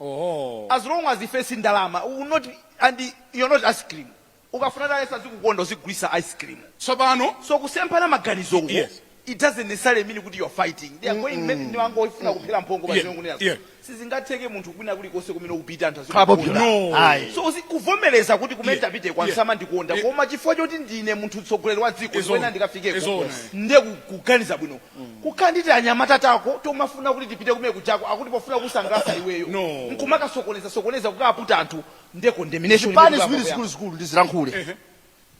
oho as long as ife si ndalama we will not and you're not ice cream ukafuna ndale azikukonda uzigulisa ice cream tsopano so kusemphana maganizo uko Yes. it doesn't necessarily mean kuti you're fighting they are going maybe ndi wongofuna kuphera mphongo pa Yeah. zimene kunena Yeah. sizingatheke munthu kwina kuli konse kumene upita anthu azikukonda. Popular. No. Ayi. so uzi- kuvomereza kuti kumene Yeah. tapite ko Yeah. samandikonda Yeah. koma chifukwa choti ndine munthu mtsogoleri wa dziko It's zimene on. It's ndikafikeko on. ndiye ku- kuganiza bwino kukhala ndi tianyamata tako tomafuna kuti tipite kumene kujako akuti pofuna kusangalasa iweyo No. nkumakasokoneza sokoneza kukaputa anthu nde condemnation zipani imene ziwiri kuyamba. zikuluzikulu ndizilankhule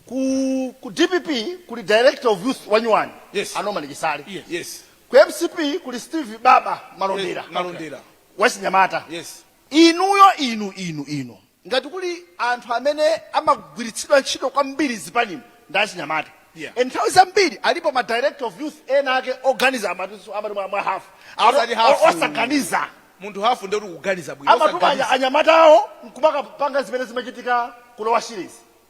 ku, ku DPP kuli director of youth wanyuwani Yes. a Norman Chisale Yes. yes ku MCP kuli Steve Baba Malondera Yes, Malondera. wachinyamata yes inuyo inu inu inu Ngati kuli anthu amene amagwiritsidwa ntchito kwambiri zipanimu ndi achinyamata Yeah. and nthawi zambiri alipo ma director of youth ena ake oganiza amati amati mwa mwa half Amati Olo- half. o- osaganiza munthu hafu nde kuti kuganiza bwino amatuma osaganiza. anya- anyamata awo nkumakapanga zimene zimachitika ku Lower Shire zi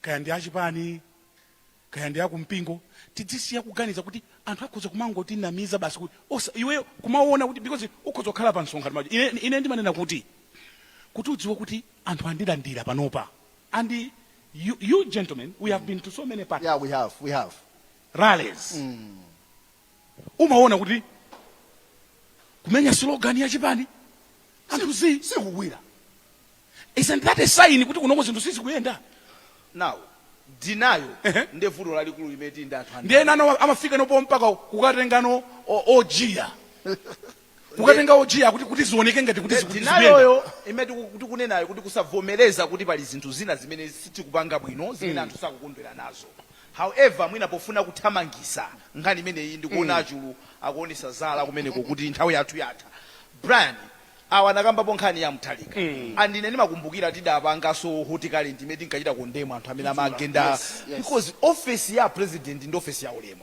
kaya ndi achipani kaya ndi akumpingo tidzisiya kuganiza kuti anthu akhoza kumangotinamiza basi kuti osa iwe kumaona kuti because ukhoza kukhala pa msonkhano maji ine, ine ndimanena kuti kuti udziwe kuti anthu andilandira panopa and you, you gentlemen we have been to so many parties Yeah, we have, we have. rallies umaona kuti kumenya slogan ya chipani anthu zi sikugwira isn't that a sign kuti kunoko zinthu sizikuyenda now denial Ehe. nde vuto lalikulu limene tili ndi anthu ndiye nano amafika nopo mpaka kukatengano o- ojiya kukatenga ojiya kuti kuti zioneke ngati kuti ziku- zikuyenda denial yo imene tiku- tikunenayo kuti kusavomereza kuti pali zinthu zina zimene sitikupanga bwino zimene anthu sakukondwera nazo however mwina pofuna kuthamangisa nkhani imeneyi ndikuona aChulu akuonesa zala kumeneko kuti nthawi yathu yatha brian awa anakambapo nkhani ya Mutharika andine ndimakumbukira tidapangaso Hot Current imene tinkachita condemn anthu amene amagenda because ofesi ya president ndi ofesi ya ulemu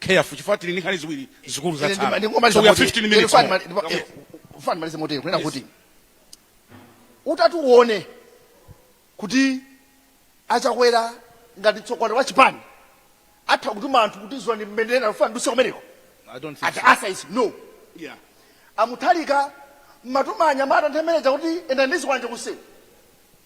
careful chifukwa tili ndi nkhani ziwiri zikulu Ine ndima- zatsala ndingomaliza so we have moti- 15 minutes Pfani more. mali- ndipo- eh, Fani malize motero kunena Yes. kuti utati uone kuti aChakwera ngati tsogoleri wa chipani atha kutuma anthu kuti tsono mbendera kufuna muduse kumeneko I don't think ati so. answer is no Yeah. aMutharika amatuma anyamata nthawi imene ija kuti yenda ndi zikwanje kusewu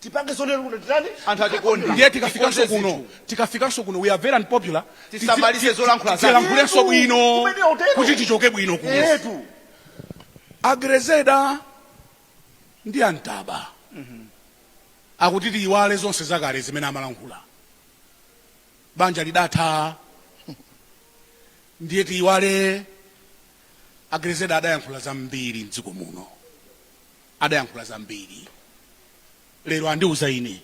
tipange zonena kuti titani anthu atikonde ndiye tikafikanso Tikonze kuno zinthu. tikafikanso kuno we are very unpopular Tisamalize Tisi- ti- zolankhula zathu. tilankhulenso bwino Kumene hotelo. kuti tichoke bwino kuno etu aGrelzeder ndi aNtaba akuti tiyiwale zonse zakale zimene amalankhula banja lidatha ndiye tiyiwale aGrelzeder adayankhula zambiri mdziko muno adayankhula zambiri lero andiuza ine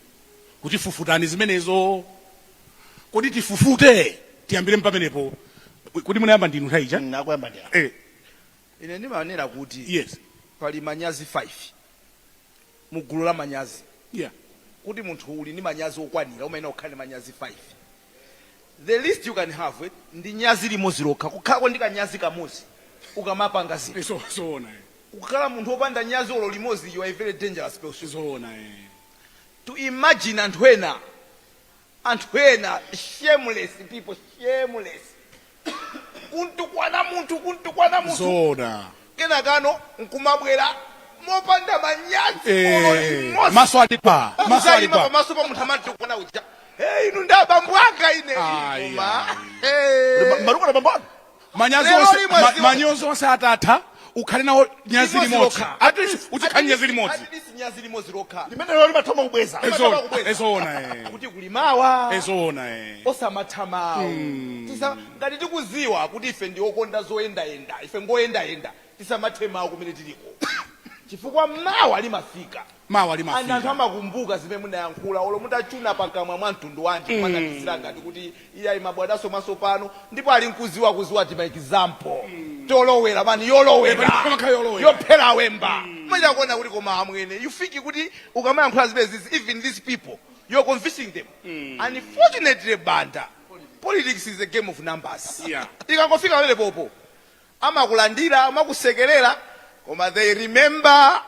kuti fufutani zimenezo kodi tifufute tiyambire mpamenepo kuti munayamba ndinu nthawi ija munayamba ndi apa. eh, ine ndimanena kuti yes pali manyazi 5 mu gulu la manyazi yeah kuti munthu uli ndi manyazi okwanira umayenera kukhala ndi manyazi 5 the least you can have ndi nyazi limodzi lokha kukhalako ndi kanyazi kamodzi ukamapanga zinthu ukakhala munthu opanda nyazi olo limodzi you are a very dangerous person to imagine anthu ena anthu ena shameless people shameless kuntukwana munthu kuntukwana munthu zoona kenakanso nkumabwera mopanda manyazi olo Eh, limodzi. maso ali pa maso ali Kuzayima pa pamaso pa munthu amamtukwana uja hey, inu ndi abambo anga ine Ayi, Koma, hey. matukwana bambo manyazi Lero onse- limwe ma- ziwa- manyozo onse atatha ukhale nawo nyazi limodzi lokha. At least uzikhale nyazi limodzi At least nyazi limodzi lokha limenelo limatha kubweza Limatha Ezo- kubweza. ezoona eh. kuti kuli mawa ezoona eh. osamatha mawu Tisa- ngati tikuziwa kuti ife ndi okonda zoyendayenda ife ngoyendayenda tisamathe mawu kumene tiliko chifukwa mawa limafika mawa and anthu limafika. amakumbuka zimene munayankhula olo mutachuna pakamwa mwa mtundu wanji kumanamizira ngati kuti iyayi ndabadwaso mwasopano ndipo ali nkuziwa kuziwa tima example tolowera mani Epa, yolowera ndikumakhala yolowera. yophera awemba machita kuona kuti koma amwene you think kuti ukamayankhula zimenezizi even these people you're convincing them unfortunately banda politics is a game of numbers Yeah. ikangofika pamene popo amakulandira amakusekelera koma they remember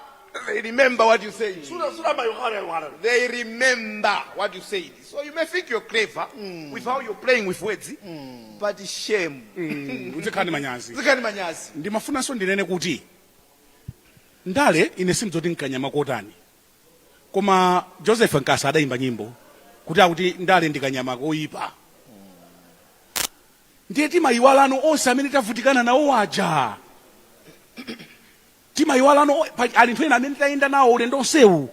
they remember what you said sura sura ma yukhara yukhara they remember what you said so you may think you're clever mm. with how you're playing with words mm. but shame mm. uzikhala ndi manyazi zikhala ndi manyazi ndimafunanso ndinene kuti ndale ine sindidziwa kuti nkanyama kotani koma joseph nkasa adayimba nyimbo kuti akuti ndale ndikanyama koyipa ndiye timayiwalano onse amene tavutikana nawo aja timayiwalano pali anthu ena amene tayenda nawo ulendo onsewu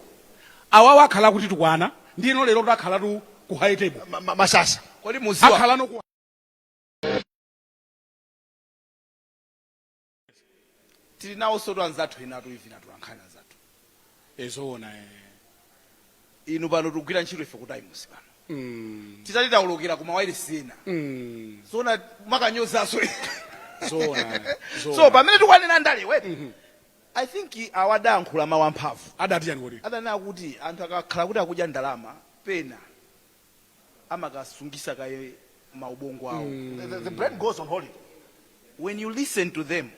awawa akhala akutitukwana ndiyeno lero takhalatu ku high table Ma- ma- mashasha kodi muziwa akhalano ku tili nawosotu anzathu enatu even atolankhani anzathu e zoona e inu pano tikugwira ntchito ife ku times pano titati taulukira ku mawailesi ena zoona mwakanyozaso zoona so zoona pamene tikunena ndalewe i think awa adayankhula mawu amphamvu adati chani kodi adanena kuti anthu akakhala kuti akudya ndalama pena amakasungisa kaye ma ubongo awo the, the, the brain goes on holiday when you listen to them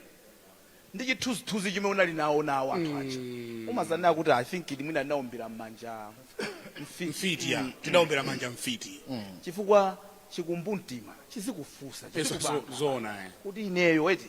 ndi chithunzithunzi chimene unali nawo nawo anthu aja umazanena kuti i think ili mwina ndinaombera mmanja mfiti mfiti ya tinaombera mmanja mfiti chifukwa chikumbumtima chizikufunsa Yes, chizikubanga. zo- zoona eh. kuti ineyo eti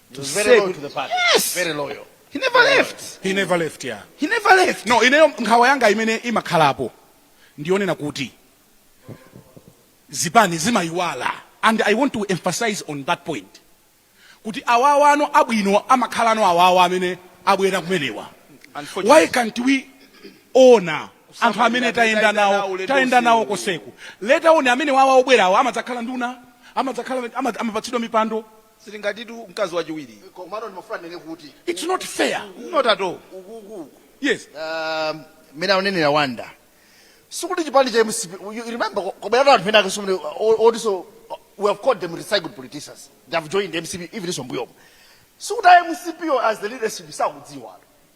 He was very loyal to the party. Yes. Very loyal. He never left. He never left, yeah. He never left. No, ineyo nkhawa yanga imene imakhalapo ndiyonena kuti zipani zimayiwala and I want to emphasize on that point kuti awawa ano abwino amakhala ano awawa amene abwera kumenewa why can't we honor anthu amene tayenda nawo koseku later on amene wawa obwerawo amadzakhala nduna amapatsidwa mipando zili ngatitu mkazi wachiwiri Eh, komano ndimafuna ndinene kuti its not fair not at all yes um, mmene akunenera wanda sikuti chipani cha mcp you you remember kwabweratu anthu ena ake omwe otiso we have called them recycled politicians they have joined mcp even m'mbuyomo sikuti a mcp wo as the leadership sakudziwa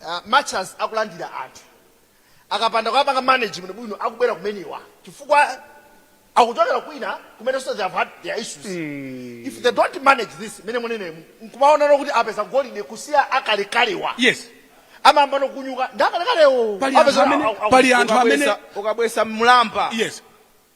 uh, much as akulandira anthu akapanda kuwapanga manage bwino bwino akubwera kumenewa chifukwa akuchokera kwina kumene so they have had their issues mm. if they don't manage this mmene mukuneneramu nkumaonano kuti apeza golide kusiya akalekalewa yes amayambano kunyuka ndi akalekalewo Pali anthu amene- pali anthu amene ukabwera mlamba yes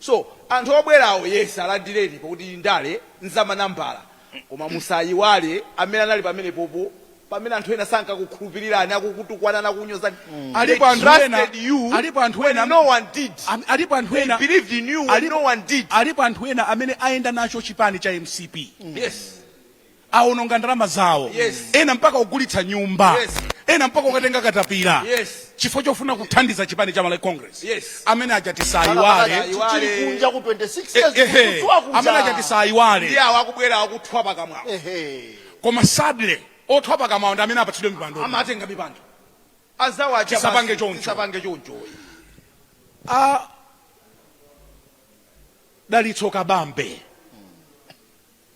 so anthu obwerawo yes alandireni pakuti ndale nzamanambala koma musayiwale amene anali pamenepopo pamene anthu ena sankakukhulupirirani akukutukwanani akukunyozani alipo anthu ena they trusted you when no one did alipo anthu ena they believed in you when no one did alipo anthu ena amene ayenda nacho chipani cha mcp yes awononga ndalama zawo Yes. ena mpaka kugulitsa nyumba Yes. ena mpaka kukatenga katapira Yes. chifukwa chofuna kuthandiza chipani cha malawi congress Yes. amene aja tisawayiwale Chichiri kunja ku 26 Eh, years ehe. kutswa amene aja kunja. tisawayiwale ndiye akubwera akuthwa pakamwawo Ehe. koma sadly othwa pakamwawo ndi amene apatsidwe mipando amatenga mipando azawo aja Tisapange basi, choncho. tisapange choncho a dalitso kabambe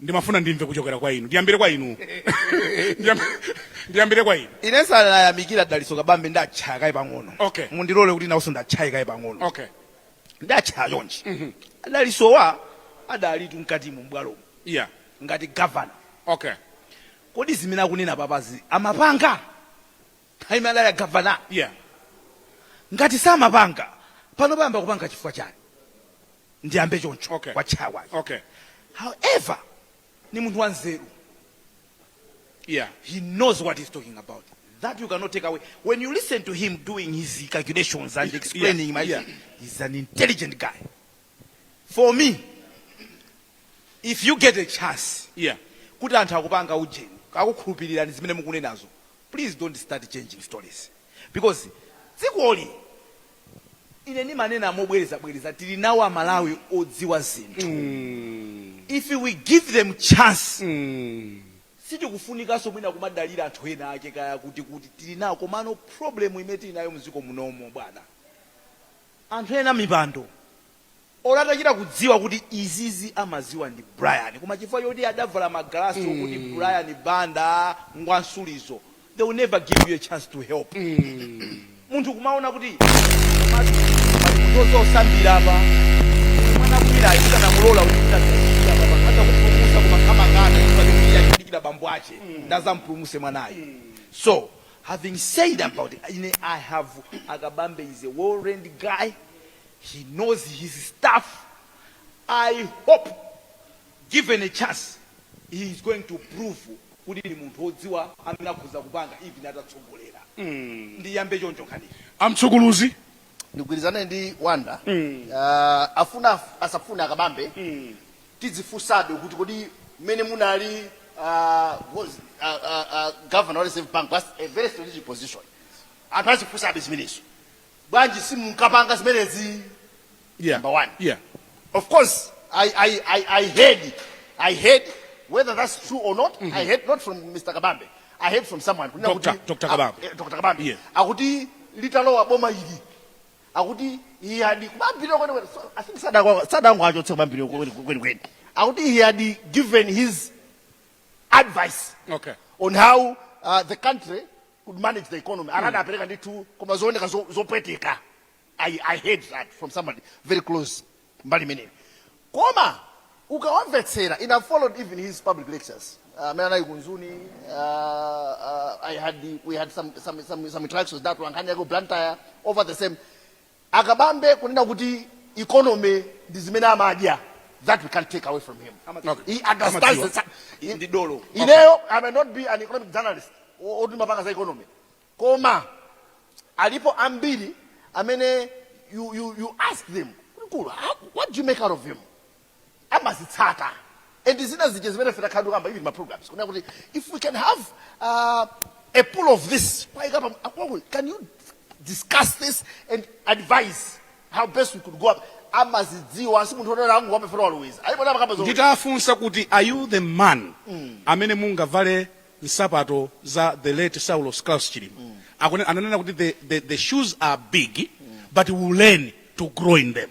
ndimafuna ndimve kuchokera kwa inu ndiyambire kwa inu ndiyambire kwa inu ine ndisanayamikire a dalitso kabambe ndatchaya kaye pang'ono okay mundilole kuti nawonso ndiwatchaye kaye pang'ono okay ndiwatchaya chonchi mm -hmm. a dalitsowa adalitu mkatimu m'bwalomo yeah ngati gavana okay kodi zimene akunena apazi amapanga Ali mu time ya governor. Yeah. Ngati samapanga pano ayamba kupanga chifukwa chani? Ndiyambe choncho Okay. kwa chawa. Okay. However, ni munthu wanzeru. Yeah. He knows what he's talking about. That you cannot take away. When you listen to him doing his calculations and explaining, Yeah, my yeah. he's an intelligent guy. For me, if you get a chance, Yeah. kuti anthu akupanga ujeni akukhulupirirani zimene mukunenazo Please don't start changing stories because dzikoli ine ndimanena mobwerezabwereza tili nawo amalawi odziwa zinthu if we give them chance sitikufunikanso mwina kumadalira anthu ena ake kaya kuti kuti tili nawo komano problem imene tili nayo mdziko munomo bwana anthu ena mipando olo atachita kudziwa kuti izizi amaziwa ndi Brian koma chifukwa choti adavala magalasi okuti mm. Brian Banda ngwa nsulizo they will never give you a chance to help mm. munthu kumaona kuti zosambira apa mwana kwira ayisa na mulola ukita kutchira baba hata kupulumutsa kumakamangana kwa dunia kidikira bambo ache mm. ndadzampulumutse mwanaye mm. so having said about it, I have Akabambe is a well-trained guy He knows his stuff, I hope given a chance he is going to prove kuti ndi munthu odziwa amene akhoza kupanga even atatsogolera. Ndiyambe choncho nkhaniyi. Amtsogoleri. ndigwirizane ndi Wonder Ah, afuna af- asafuna akabambe tidzifunsabe kuti kodi mmene munali ah, was- ah, ah, ah, governor wa reserve bank was a very strategic position anthu azifunsabe zimenezo bwanji simunkapanga zimenezi yeah. number one yeah. of course I, I, I, I heard I heard whether that's true or not mm -hmm. I heard not from Mr. Kabambe I heard from someone kunena Dr. kuti Dr. Kabambe ah, eh, Dr. Kabambe yeah. akuti litalowa boma ili akuti he had kubambira kwene kwene so, I think sadangwa sadangwa achotse kubambira kwene kwene kwene akuti he had given his advice okay. on how uh, the country could manage the economy akanapereka ndithu koma zooneka zo- zopweteka I, i heard that from somebody very close mbali imeneyo koma ukawamvetsera and i followed even his public lectures Uh, amene anali ku Mzuni uh, uh, i had we had some, some, some, some interactions at Nkhani yaku Blantyre over the same Akabambe kunena kuti economy ndi zimene amadya that we can't take away from him. Amadziwa. He understands Amadziwa. the sci- Ndi- ndi dolo. Ineyo I may not be an economic journalist o- oti mapanga za economy. Koma alipo ambiri amene you, you, you ask them kuti mkulu how- what do you make out of him? amazitsata and zina zija zimene ife takhala tikuyankhula even ma programs kunena kuti if we can have uh, a pool of this kwaika pa- akwaku- can you discuss this and advise how best we could go up amazidziwa si munthu wongonena wapefera waloweza alipo ndimakamba za nditawafunsa kuti are you the man amene mungavale nsapato za the late saulos klaus chilima Akune- ananena kuti the, the, the shoes are big but we learn to grow in them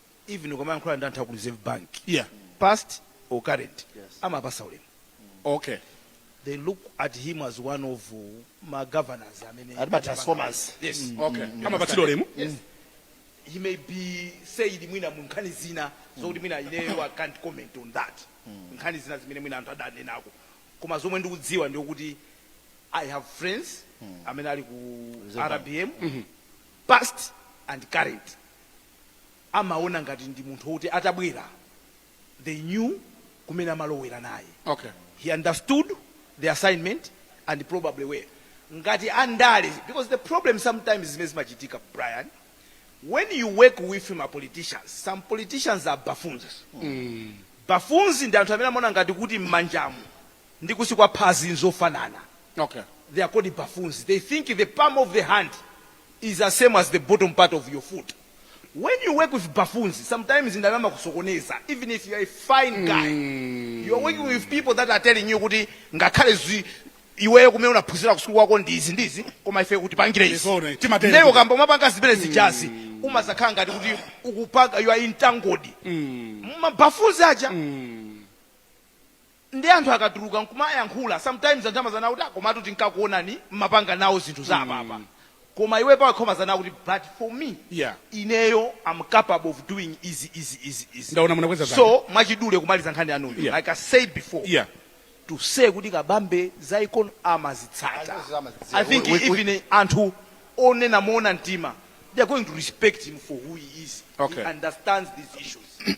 even ukamayankhula ndi anthu aku reserve bank Yeah. past or current amawapatsa ulemu Okay. they look at him as one of uh, ma governors amene Ati ma transformers. yes Mm, Okay. mm, mm. Amapatsidwa ulemu? yes he may be said mwina mu nkhani zina zokuti mwina ineyo i can't comment on that nkhani zina zimene mwina anthu adanenako koma zomwe ndikudziwa ndikuti i have friends amene ali ku Reserve Bank. rbm Mhm. past and current amaona ngati ndi munthu woti atabwera they knew kumene amalowera naye. Okay. He understood the assignment and probably were. Ngati andale, because the problem sometimes zimene zimachitika Brian, when you work with ma politicians, some politicians are buffoons. Buffoons ndi anthu amene amaona ngati kuti m'manjamu ndi kunsi kwa phazi nzofanana okay they are called buffoons they think the palm of the hand is the same as the bottom part of your foot when you work with buffoons sometimes andale amakusokoneza even if you are a fine guy you are working with people that are telling you kuti ngakhale zi iweyo kumene unaphunzira kusukulu kwako ndi izi ndi izi koma ife utipangire izi Zona, timatero. Ndiye ukayamba kumapanga zimene zijazi umazakhala ngati kuti ukupanga you are entangled mu ma buffoons aja nde anthu akatuluka nkumayankhula sometimes anthu amazanena kuti ah komatu tinkakuonani mmapanga nawo zinthu za apapa koma iwe pawekha umazanena kuti but for me Yeah. ineyo am capable of doing izi izi izi izi Ndaona munakweza zanja. so mwachidule kumaliza nkhani yanuyo Yeah. like i said before yeah to say kuti kabambe za econ amazitsata Amazitsata, amazidziwa. i think We- we- we- even anthu onena moona mtima they are going to respect him for who he is Okay. he understands these issues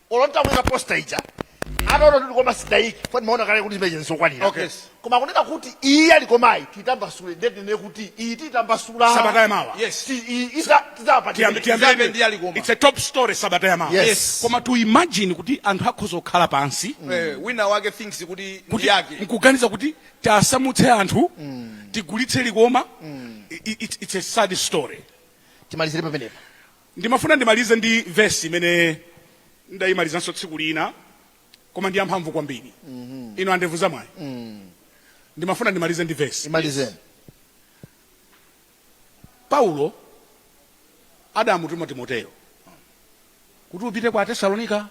olo ntakuika posta ija ataona kuti koma sidaiki fani maona kale kuti zimeje nzosakwanira Okay. koma kunena kuti iyi ya Likomayi titambasule nde tinene kuti iyi titambasula Sabata ya mawa. Yes. Ti- iyi isa- tidzawapatira. Tiyambe- tiyambe- Tiyambe ndi ya Likoma. It's a top story sabata ya mawa Yes. koma to imagine kuti anthu akhoza kukhala pansi Eh, wina wake thinks kuti ndi yake nkuganiza kuti tasamutse anthu tigulitse likoma I- i- it's, it's a sad story timalizire pamenepa Ndimafuna ndimalize ndi vesi imene ndidaimalizanso tsiku lina, koma ndi yamphamvu kwambiri. Inu a ndevu zamwayi, ndimafuna ndimalize ndi vesi. Imalizeni. Paulo adamutuma Timoteyo kuti upite kwa Atesalonika,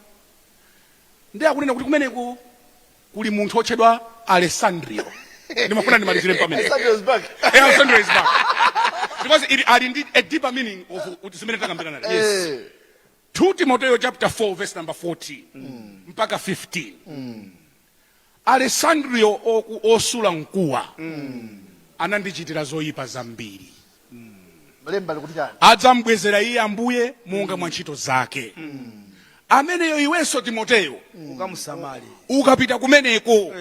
ndiye akunena kuti kumeneko kuli munthu otchedwa alessandrio ndimafuna ndimalizire pamene alessandrio is back because it ali ndi a deeper meaning of zimene takambirana lero yes 2 eh. timoteyo chapter 4 verse number 14 mm. mpaka 15 mm. alessandrio osula mkuwa mm. anandichitira zoyipa zambiri lemba likuti chani adzamubwezera iye ambuye monga mwa ntchito zake ameneyo iwenso timoteyo ukamusamale ukapita kumeneko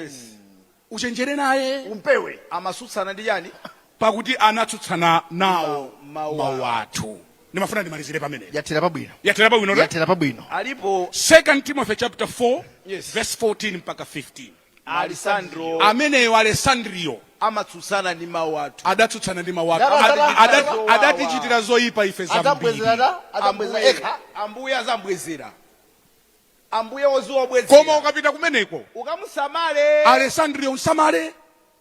uchenjere naye umpewe amatsutsana ndi chani pakuti anatsutsana nawo Mawu- mawu mawu athu ndimafuna ndimalizire pamene yathera pabwino yathera pabwino yathera pabwino alipo 2 timothy chapter 4 Yes. verse 14 mpaka 15 Alessandro ameneyo alesandriyo amatsutsana ndi mawu athu adatsutsana ndi mawu ake Ndaba- Ada- ndaba- ada- ndaba- adatichitira zoyipa ife zambiri adzabwezerana adzabwezera Ambuye- ekha ambuye azambwezera ambuye oziwa koma obwezera ukapita kumeneko ukamusamale alesandriyo msamale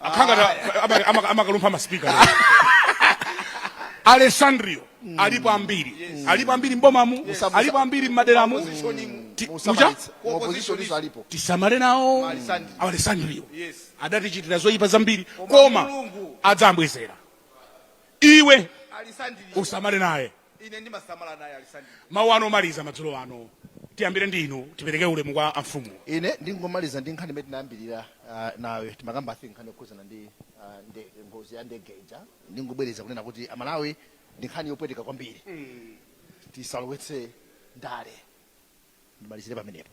akhala akuta ama- ama- amakalumpha masipika alessandrio alipo ambiri alipo ambiri mbomamu alipo ambiri mmaderamu opposition muja alipo tisamale nawo alessandrio Yes. adatichitira zoyipa zambiri koma Mulungu adzambwezera iwe alessandrio usamale naye ine ndimasamala naye alessandrio mawu anu omaliza madzulo ano tiyambire ndi inu tipereke ulemu kwa amfumu ine ndingomaliza ndi nkhani imene tinayambirira ah, nayo timakamba I think nkhani yokhuzana ndi ah, nde- ngozi ya ndege ija ndingobwereza kunena kuti amalawi ndi nkhani yopweteka kwambiri tisalowetse ndale ndimalizire pamenepo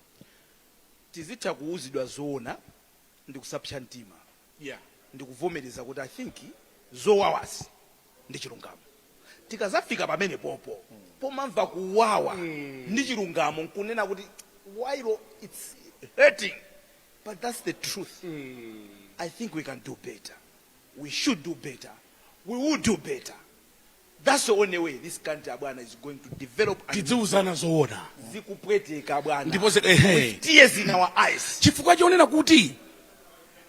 tizitha kuuzidwa zoona ndi kusapsa mtima yeah. ndi kuvomereza kuti i think zowawazi ndi chilungamo tikazafika pamene popo pomamva kuwawa ndi chilungamo nkunena kuti while it's hurting but that's the truth i think we can do better we should do better we will do better that's the only way this country abwana is going to develop and tidziuzana zoona zikupweteka abwana ndipo zi- ehe. With tears in our eyes chifukwa chonena kuti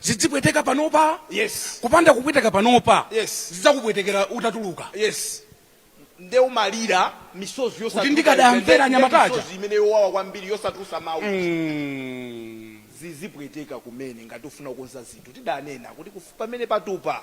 zidzipweteka panopa yes kupanda kupweteka panopa yes zidzakupwetekera utatuluka yes nde umalira misozi yosatuluka Kuti ndikadamvera anyamata aja. misozi imene yowawa kwambiri yosatulusa mawu Mm. zizipweteka kumene ngati ufuna kukonza zinthu tidanena kuti kufu- pamene patupa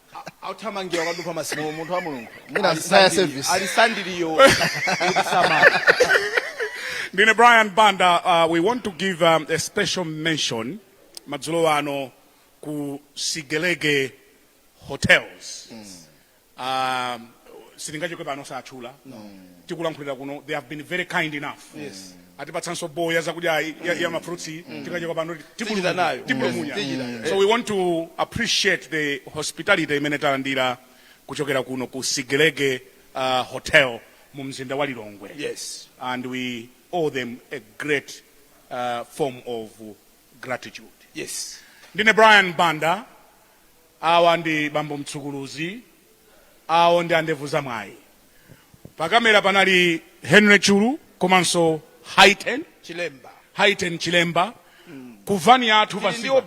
umathamangira kwa Dupa masalimo munthu wa mulungu Mwina fire service. Alessandrio kumusamala Ndine Brian Banda, uh, we want to give um, a special mention madzulo ano ku Sigelege Hotels. Um, sitingachoke pano osatchula tikulankhulira kuno they have been very kind enough atipatsanso bowl ya zakudya ayi ya, ya ma fruits iyi tikachoka pano tipulumunya Mm. so we want to appreciate the hospitality imene talandira kuchokera kuno ku Sigelege uh, hotel mu mzinda wa Lilongwe yes and we owe them a great uh, form of gratitude yes ndine Brian Banda Awa ndi bambo Mtsukuluzi, awo ndi a ndevu za mwayi. Pa camera panali Henry Chulu komanso Haiten Chilemba. Ku van yathu pasipa.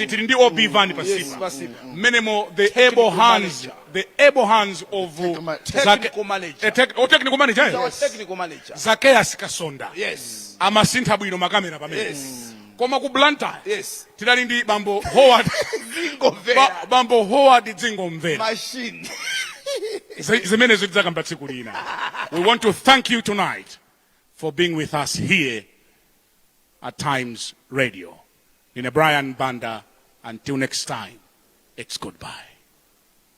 Tili ndi OB van Yes, pasipa. Mmenemo the able hands, the able hands of ma- Zake- Technical manager. Eh, tec- oh, technical manager, eh? Our technical manager. Zacchaeus Kasonda. Yes. Amasintha bwino makamera amene. Yes. koma ku blantyre yes tidali ndi bambo howard ndingomvera ba, bambo howard dzingomvera machine Zi- zimenezo tidzakamba tsiku lina we want to thank you tonight for being with us here at times radio ine brian banda until next time it's goodbye